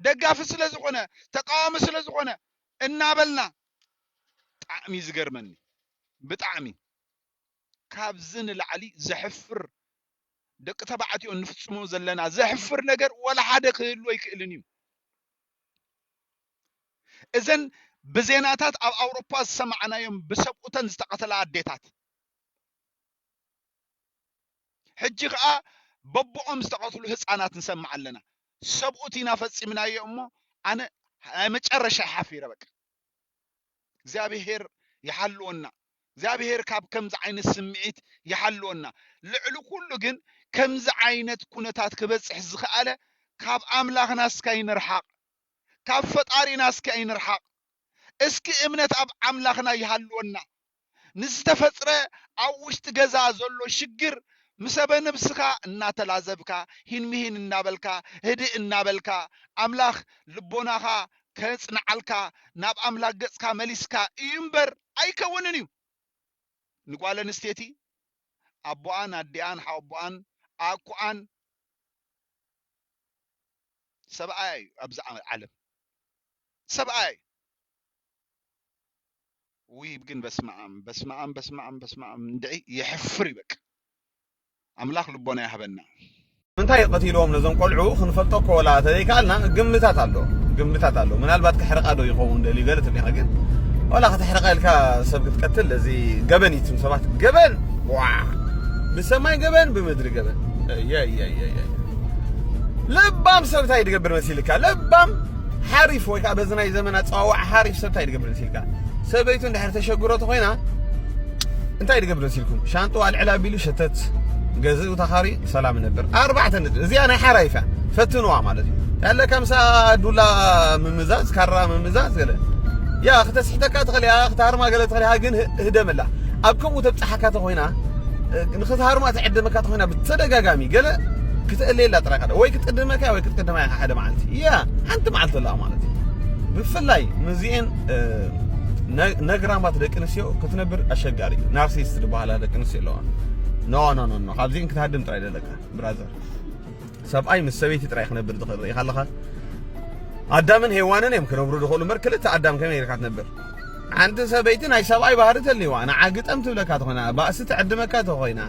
ደጋፊ ስለ ዝኾነ ተቃዋሚ ስለ ዝኾነ እናበልና ጣዕሚ ዝገርመኒ ብጣዕሚ ካብዚ ንላዕሊ ዘሕፍር ደቂ ተባዕትዮ እንፍጽሞ ዘለና ዘሕፍር ነገር ወላ ሓደ ክህሉ ኣይክእልን እዩ እዘን ብዜናታት ኣብ ኣውሮፓ ዝሰማዕናዮም ብሰብኡተን ዝተቐተላ ኣዴታት ሕጂ ከኣ በቦኦም ዝተቀትሉ ህጻናት ንሰምዕ ኣለና ሰብኡት ኢና ፈጺምናዮ እሞ ኣነ ናይ መጨረሻይ ሓፊረ በቃ እግዚኣብሄር ይሓልወና እግዚኣብሄር ካብ ከምዚ ዓይነት ስምዒት ይሓልወና ልዕሊ ኩሉ ግን ከምዚ ዓይነት ኩነታት ክበጽሕ ዝኸኣለ ካብ ኣምላኽና እስኪ ኣይንርሓቕ ካብ ፈጣሪና እስኪ ኣይንርሓቕ እስኪ እምነት ኣብ ኣምላኽና ይሃልወና ንዝተፈጥረ ኣብ ውሽጢ ገዛ ዘሎ ሽግር ምሰበ ነብስካ እናተላዘብካ ሂንምሂን እናበልካ ህድእ እናበልካ ኣምላክ ልቦናካ ከፅንዓልካ ናብ ኣምላክ ገፅካ መሊስካ እዩ እምበር ኣይከውንን እዩ ንጓል ኣንስቴቲ ኣቦኣን ኣዲኣን ሓወቦኣን ኣኩኣን ሰብኣያ እዩ ኣብዚ ዓለም ሰብኣያ እዩ። ውይ ግን በስመኣም በስመኣም በስመኣም በስመኣም እንድዒ የሕፍር እዩ በቃ ኣምላኽ ልቦና ይሃበና። ንምንታይ ቀቲልዎም ነዞም ቆልዑ ክንፈልጦ እኮ ወላ ተዘይከኣልና ግምታት ኣሎ ግምታት ኣሎ ምናልባት ከሕርቃ ዶ ይኸውን ደልዩ ገለ ተብሊካ ግን ወላ ከተሕርቃ ኢልካ ሰብ ክትቀትል እዚ ገበን እዩ ትም ሰባት ገበን ዋ ብሰማይ ገበን ብምድሪ ገበን ለባም ሰብ እንታይ ድገብር መሲልካ ለባም ሓሪፍ ወይ ከኣ በዚ ናይ ዘመን ኣጸዋውዓ ሓሪፍ ሰብ እንታይ ድገብር እንሲልካ ሰበይቱ እንድሕር ተሸግሮ ተኾይና እንታይ ድገብር እንሲልኩም ሻንጥኡ ኣልዕል ኣቢሉ ሸተት ገዝኡ ተኻሪ ሰላም ነብር ኣርባዕተ ነጥቢ እዚኣ ናይ ሓራይፍ እያ ፈትንዋ ማለት እዩ ያለ ከምሳ ዱላ ምምዛዝ ካራ ምምዛዝ ገለ ያ ክተስሕተካ ትኽእልያ ክትሃርማ ገለ ትኽእልያ ግን ህደመላ ኣብ ከምኡ ተብጽሓካ ተኾይና ንክትሃርማ ትዕድመካ ተኾይና ብተደጋጋሚ ገለ ክትእልየላ ጥራይ ወይ ክትቅድመካ ወይ ክትቅድማ ኢኻ ሓደ መዓልቲ እያ ሓንቲ መዓልቲ ኣለኣ ማለት እዩ ብፍላይ ምስዚኤን ነግራማት ደቂ ኣንስትዮ ክትነብር ኣሸጋሪ እዩ ናርሲስት ዝበሃላ ደቂ ኣንስትዮ ኣለዋ ኖ ኖ ኖ ኖ ካብዚኤን ክትሃድም ጥራይ ዘለካ ብራዘር ሰብኣይ ምስ ሰበይቲ ጥራይ ክነብር ዝኽእል ርኢኻ ኣለኻ ኣዳምን ሄዋንን እዮም ክነብሩ ዝኽእሉ እምበር ክልተ ኣዳም ከመይ ጌርካ ትነብር ሓንቲ ሰበይቲ ናይ ሰብኣይ ባህሪ ተልዋ ንዓ ግጠም ትብለካ ተኾይና ባእሲ ትዕድመካ ተኾይና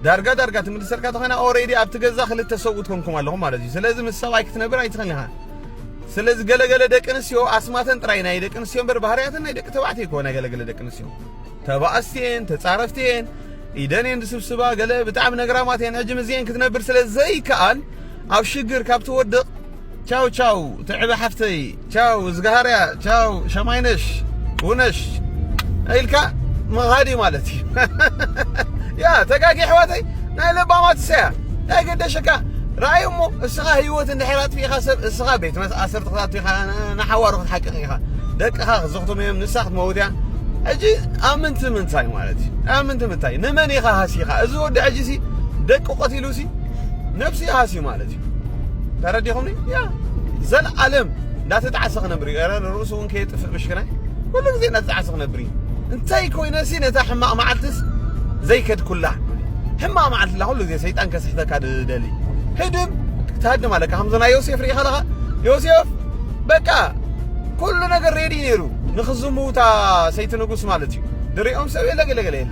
ዳርጋ ዳርጋ ትምልሰልካ ተኾይና ኦሬዲ ኣብቲ ገዛ ክልተ ሰብኡት ኮንኩም ኣለኹም ማለት እዩ ስለዚ ምስ ሰብኣይ ክትነብር ኣይትኽእልን ኢኻ ስለዚ ገለገለ ደቂ ኣንስትዮ ኣስማተን ጥራይ ናይ ደቂ ኣንስትዮ እምበር ባህርያተን ናይ ደቂ ተባዕትዮ ይኮ ናይ ገለገለ ደቂ ኣንስትዮ ተባእስትየን ተጻረፍትየን ኢደን እየን ዝስብስባ ገለ ብጣዕሚ ነግራማት እየን ሕጂ ምስዚኤን ክትነብር ስለ ዘይከኣል ኣብ ሽግር ካብ ትወድቕ ቻው ቻው ትዕበ ሓፍተይ ቻው እዝግሃርያ ቻው ሸማይነሽ ውነሽ ኢልካ ምኻድ እዩ ማለት እዩ ያ ተጋጊ ኣሕዋተይ ናይ ለባማት ሰያ ናይ ገደሸካ ራእይ እሞ እስኻ ህይወት እንድሕር ኣጥፊእኻ ሰብ እስኻ ቤት ኣሰርት ክታቱ ኢኻ ንሓዋሩ ክትሓቅቕ ኢኻ ደቅኻ ክዘኽትሙ እዮም ንሳ ክትመውት እያ ሕጂ ኣብ ምንቲ ምንታይ ማለት እዩ ኣብ ምንቲ ምንታይ ንመን ኢኻ ሃሲኻ እዚ ወዲ ሕጂ ሲ ደቂ ቆቲሉ ሲ ነብሱ ይሃሲ ማለት እዩ ተረዲኹምኒ ያ ዘለዓለም እንዳተጣዕሰ ክነብር እዩ ረ ርእሱ እውን ከየጥፍእ ምሽክናይ ኩሉ ግዜ እንዳተጣዕሰ ክነብር እዩ እንታይ ኮይነሲ ነታ ሕማቕ መዓልትስ ዘይከድኩላ ሕማቕ መዓልትላ ኩሉ ግዜ ሰይጣን ከስሕተካ ድደሊ ህድም ትሃድም ኣለካ ከምዚ ናይ ዮሴፍ ርኢኻ ኣለኻ ዮሴፍ በቃ ኩሉ ነገር ሬዲ ነይሩ ንክዝምውታ ሰይቲ ንጉስ ማለት እዩ ድሪኦም ሰብ የለ ገለገለ የለ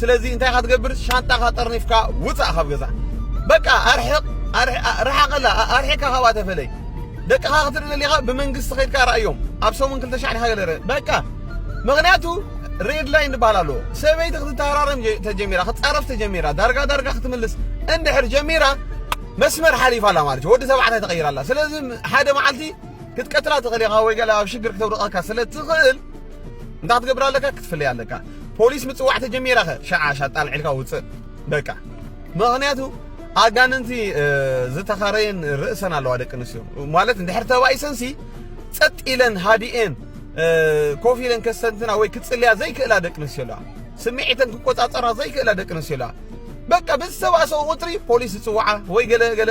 ስለዚ እንታይ ኢኻ ትገብር ሻንጣኻ ጠርኒፍካ ውጻእ ካብ ገዛ በቃ ኣርሕቕ ርሓቐላ ኣርሒካ ካብኣ ተፈለይ ደቅኻ ክትርኢ ደሊኻ ብመንግስቲ ከድካ ርኣዮም ኣብ ሰሙን ክልተ ሻዕ ዲኻ ገለ በቃ ምክንያቱ ሬድ ላይን ዝበሃል ኣለዎ ሰበይቲ ክትተሃራረም ተጀሚራ ክትጻረፍ ተጀሚራ ዳርጋ ዳርጋ ክትምልስ እንድሕር ጀሚራ መስመር ሓሊፋ ኣላ ማለት ወዲ ተባዕታይ ተቐይራ ኣላ ስለዚ ሓደ መዓልቲ ክትቀትላ ትኽእል ኢኻ ወይ ገለ ኣብ ሽግር ክተውድቐካ ስለ ትኽእል እንታይ ክትገብር ኣለካ ክትፍለይ ኣለካ ፖሊስ ምጽዋዕ ተጀሚራ ከ ሸዓ ሻጣል ዒልካ ውጽእ በቃ ምክንያቱ ኣጋንንቲ ዝተኸረየን ርእሰን ኣለዋ ደቂ ኣንስትዮ ማለት እንድሕር ተባኢሰንሲ ጸጥ ኢለን ሃዲኤን ኮፍ ኢለን ከሰንትና ወይ ክጽልያ ዘይክእላ ደቂ ኣንስትዮ ኣለዋ ስምዒተን ክቆጻጸራ ዘይክእላ ደቂ ኣንስትዮ ኣለዋ በቃ ብዝተባእሰኦ ቁፅሪ ፖሊስ ዝፅዋዓ ወይ ገለ ገለ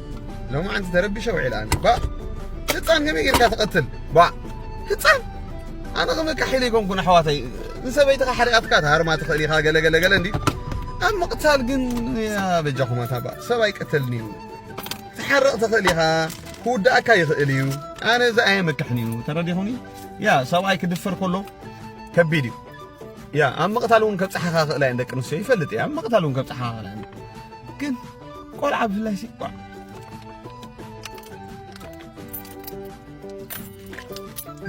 ሎማዓንቲ ተረቢሸ ውዒለ ኣነ ባእ ህፃን ከመይ ጌርካ ትቐትል ባእ ህፃን ኣነ ከመካሒለ ይኮንኩን ኣሕዋተይ ንሰበይትኻ ሓሪቓትካ ትሃርማ ትኽእል ኢኻ ገለ ገለ ገለ እንዲዩ ኣብ ምቕታል ግን በጃኹም ኣታ ባእ ሰብ ኣይቀተልን እዩ ትሓርቕ ትኽእል ኢኻ ክውዳእካ ይኽእል እዩ ኣነ እዚ ኣየመክሕን እዩ ተረዲኹኒ ያ ሰብኣይ ክድፈር ከሎ ከቢድ እዩ ያ ኣብ ምቕታል እውን ከብፅሓኻ ክእላ እየን ደቂ ኣንስትዮ ይፈልጥ እየ ኣብ ምቕታል እውን ከብፅሓኻ ክእላ እየን ግን ቆልዓ ብፍላይ ሲ ቋዕ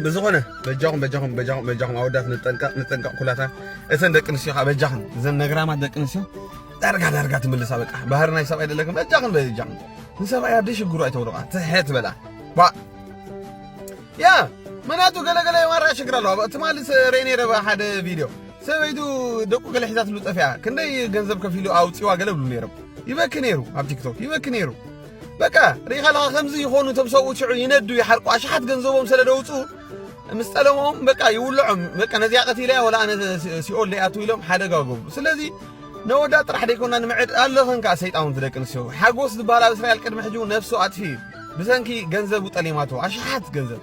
ብዝኾነ በጃኹም በጃኹም በጃኹም በጃኹም ኣወዳት ንጠንቀቕ ንጠንቀቕ ኩላታ እተን ደቂ ኣንስትዮ ከዓ በጃኽን እዘን ነግራማት ደቂ ኣንስትዮ ዳርጋ ዳርጋ ትምልሳ በቃ ባህሪ ናይ ሰብኣይ ደለክን በጃኽን በጃኽን ንሰብኣይ ኣብ ደሽግሩ ኣይተውርቓ ትሐ ትበላ ባ ያ ምክንያቱ ገለገለ የማራ ሽግር ኣለዋ ትማሊ ሬ ነይረ ሓደ ቪድዮ ሰበይቱ ደቁ ገለ ሒዛትሉ ጠፊኣ ክንደይ ገንዘብ ከፊሉ ኣውፂዋ ገለ ብሉ ነይሮም ይበኪ ነይሩ ኣብ ቲክቶክ ይበኪ ነይሩ በቃ ሪኢኻ ኣለኻ ከምዚ ይኾኑ እቶም ሰብኡት ሽዑ ይነዱ ይሓርቁ ኣሽሓት ገንዘቦም ስለ ደውፅኡ ምስ ጠለሞም በቃ ይውልዖም በቃ ነዚኣ ቀቲለያ ወላ ኣነ ሲኦል ደይኣቱ ኢሎም ሓደጋ ገብሩ ስለዚ ነወዳ ጥራሕ ደይኮና ንምዕድ ኣለኽን ከዓ ሰይጣውንቲ ደቂ ኣንስትዮ ሓጎስ ዝበሃል ኣብ እስራኤል ቅድሚ ሕጂ ነፍሱ ኣጥፊ እዩ ብሰንኪ ገንዘቡ ጠሊማቶ ኣሽሓት ገንዘብ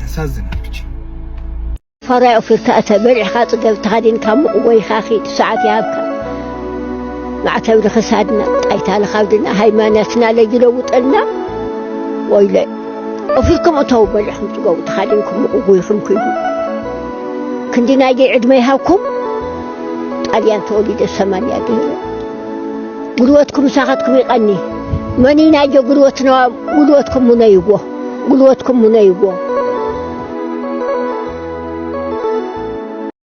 ያሳዝናል ብቻ ፋራይ ኦፊርካ እተ በሊዕካ ጽገብ ተኸዲንካ ሙቕ ወይኻ ኺድ ሰዓት ይሃብካ ማዕተብ ንኽሳድና ጣይታ ንኻብድና ሃይማኖትና ለይለውጠልና ወይለ ኦፊርኩም እተው በሊዕኩም ጽገቡ ተኸዲንኩም ሙቕ ጎይኹም ክይዱ ክንዲ ናይ ደይ ዕድመ ይሃብኩም ጣልያን ተወሊደ ሰማንያ ገይረ ጉልበትኩም ሳኻትኩም ይቐኒ መኒ ናይ ጀ ጉልበትና ጉልበትኩም ሙነይዎ ጉልበትኩም ሙነይዎ።